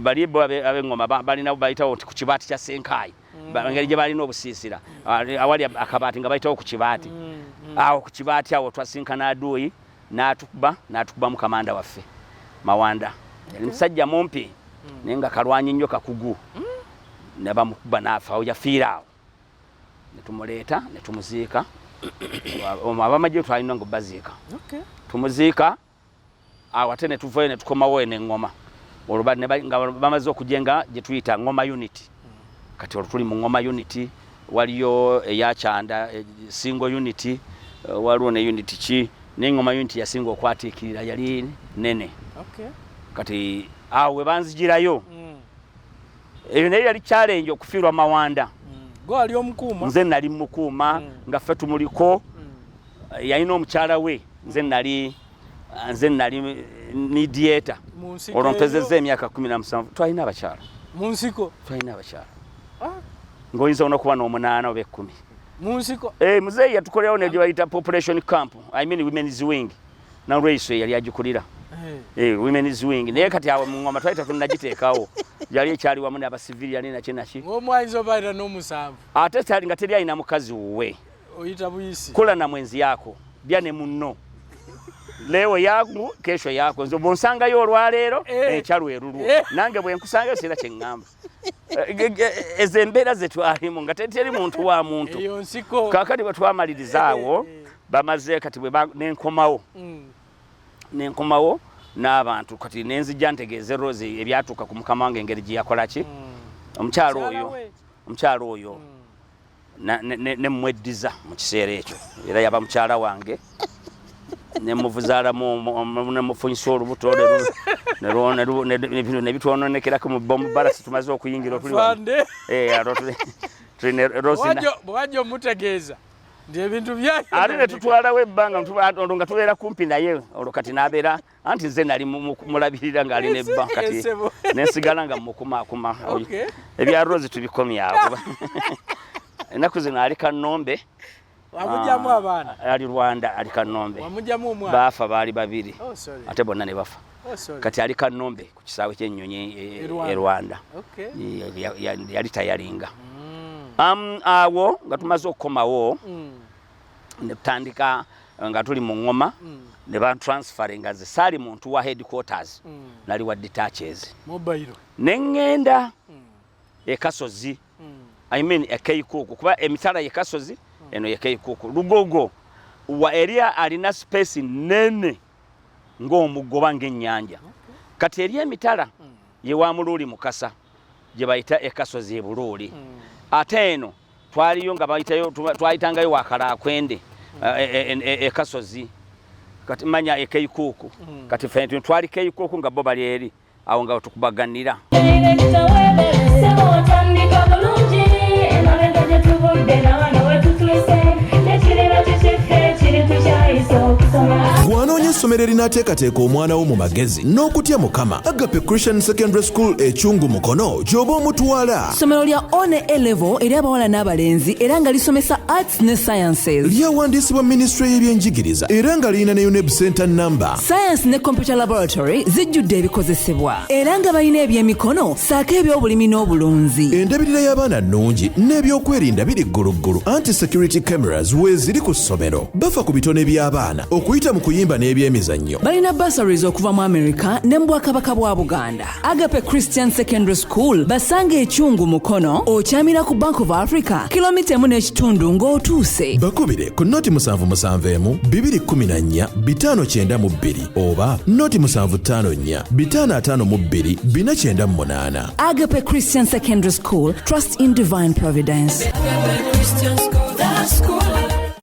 bali bo abengoma balina bayitawo nti ku kibaati kya senkaayi mm. engeri gye balina obusiisira mm. awali akabaati nga bayitawo ku kibaati mm, awo ku kibaati awo twasinkana aduuyi n'atukuba n'atukubamu kamanda waffe mawanda yali musajja mumpi naye nga kalwanyi nnyo kakugu ne bamukuba n'afaawo yafiira awo ne tumuleeta ne tumuziika abamagye twalina nga baziika tumuziika awo ate ne tuvayo ne tukomawo eno eŋŋoma olwo nga bamaze okugye nga gye tuyita ŋŋoma uniti kati olwo tuli mu ŋŋoma uniti waliyo eyakyanda eh, singo uniti eh, waliwo ne uniti ki naye ŋŋoma uniti yasinga okwatiikirira yali nene kati awo we banzigirayo mm. eyo naye yali challenge okufiirwa mawanda mm. nze nali mukuuma mm. nga ffe tumuliko mm. yalina omukyala we nze nali nze nali midieta olwo mpezezza emyaka kumi na musanvu twalina abakyala munsiko twalina abakyala ah. ngaoyinza ona okuba n'omunaana oba ekkumi munsiko eh, muzeeyi yatukolewo negyebayita population camp i mean women's wing nalweiso eyali agikulira eh. eh, women's wing naye kati awo mungoma twali tetunnagiteekawo yali ekyali wamu nabasiviri yali naki naki ate kyali nga teri alina mukazi wuwe kola na mwenzi yako lya ne munno leo yaku kesho yako nze bwonsangayo olwaleero eh. enkya lwerulwo nange bwenkusangayo sirina kyeŋŋamba ezo embeera zetwalimu nga teteri muntu wa muntu kakati bwetwamalirizaawo eh, eh, eh. bamaze kati nenkomawo mm. nenkomawo n'abantu kati nenzija ntegeeze rose ebyatuuka ku mukama wange engeri gyeyakolaki mm. omukyalo oyo omukyalo oyo mm. nemweddiza mu kiseera ekyo era yaba mukyala wange nemuvuzaalamunemufunyisa olubuto nebitwononekerako mu bomubalasi tumaze okuyingira otuliwajja omutegeeza nti ebintu byaate netutwalawo ebbanga olwo nga tubeera kumpi naye olwo kati nabeera anti nze nali mulabirira nga ali ne bba kati nensigala nga mukumaakuma ebya rose tubikomyawo ennaku zino ali kanombe wamujamu ah, abaana ali rwanda ali kanombe wamujamu omwana baafa baali babiri oh, ate bonna ne bafa oh, kati ali kanombe ku kisaawe kyennyonyi e, e, e, e rwanda yali tayalinga mm. um, awo nga tumaze okukomawo mm. ne tutandika eh, nga tuli mu ŋŋoma mm. ne bantransferinga ze saali muntu wa headquarters mm. nali wa detaches ne ŋŋenda mm. ekasozi i mean ekeikuuku kuba emitala yekasozi eno yekeikuuku lugogo wa eri alina space nene ng'omuggo oba ng'ennyanja kati eri emitala ye wa muluuli mukasa gye bayita ekasozi ebuluuli hmm. ate eno twaliyo nga bayitayo twayitangayo wakalakwende ekasozi hmm. eh, eh, eh, kati manya ekeikuuku hmm. kati fe twali keikuuku nga bo bali eri awo nga tukubaganira gwanonya essomero erinaateekateeka omwana wo mu magezi n'okutya mukama agape christian secondary school ekyungu mukono gy'oba omutwala ssomero lya one elevo eri abawala n'abalenzi era nga lisomesa arts ne sciences lyawandiisibwa minisitule y'ebyenjigiriza era nga lirina ne uneb center namba science ne computer laboratory zijjudde ebikozesebwa era nga balina ebyemikono saako eby'obulimi n'obulunzi endabirira y'abaana nnungi n'ebyokwerinda biri gguluggulu anti security cameras weeziri ku ssomero bafa ku bitone by'abaana okuyita mu kuyimba n'ebyemizannyo balina bursaries okuva mu america ne mu bwakabaka bwa buganda agape christian secondary school basanga ekyungu mukono okyamira ku bank of africa kilomita emu n'ekitundu ng'otuuse bakubire ku noti musanvu musanvu emu bibiri kumi na nnya bitaano kyenda mu bbiri oba noti musanvu ttaano nnya bitaano ataano mu bbiri bina kyenda mu munaana agape christian secondary school trust in divine providence Christian school, that school.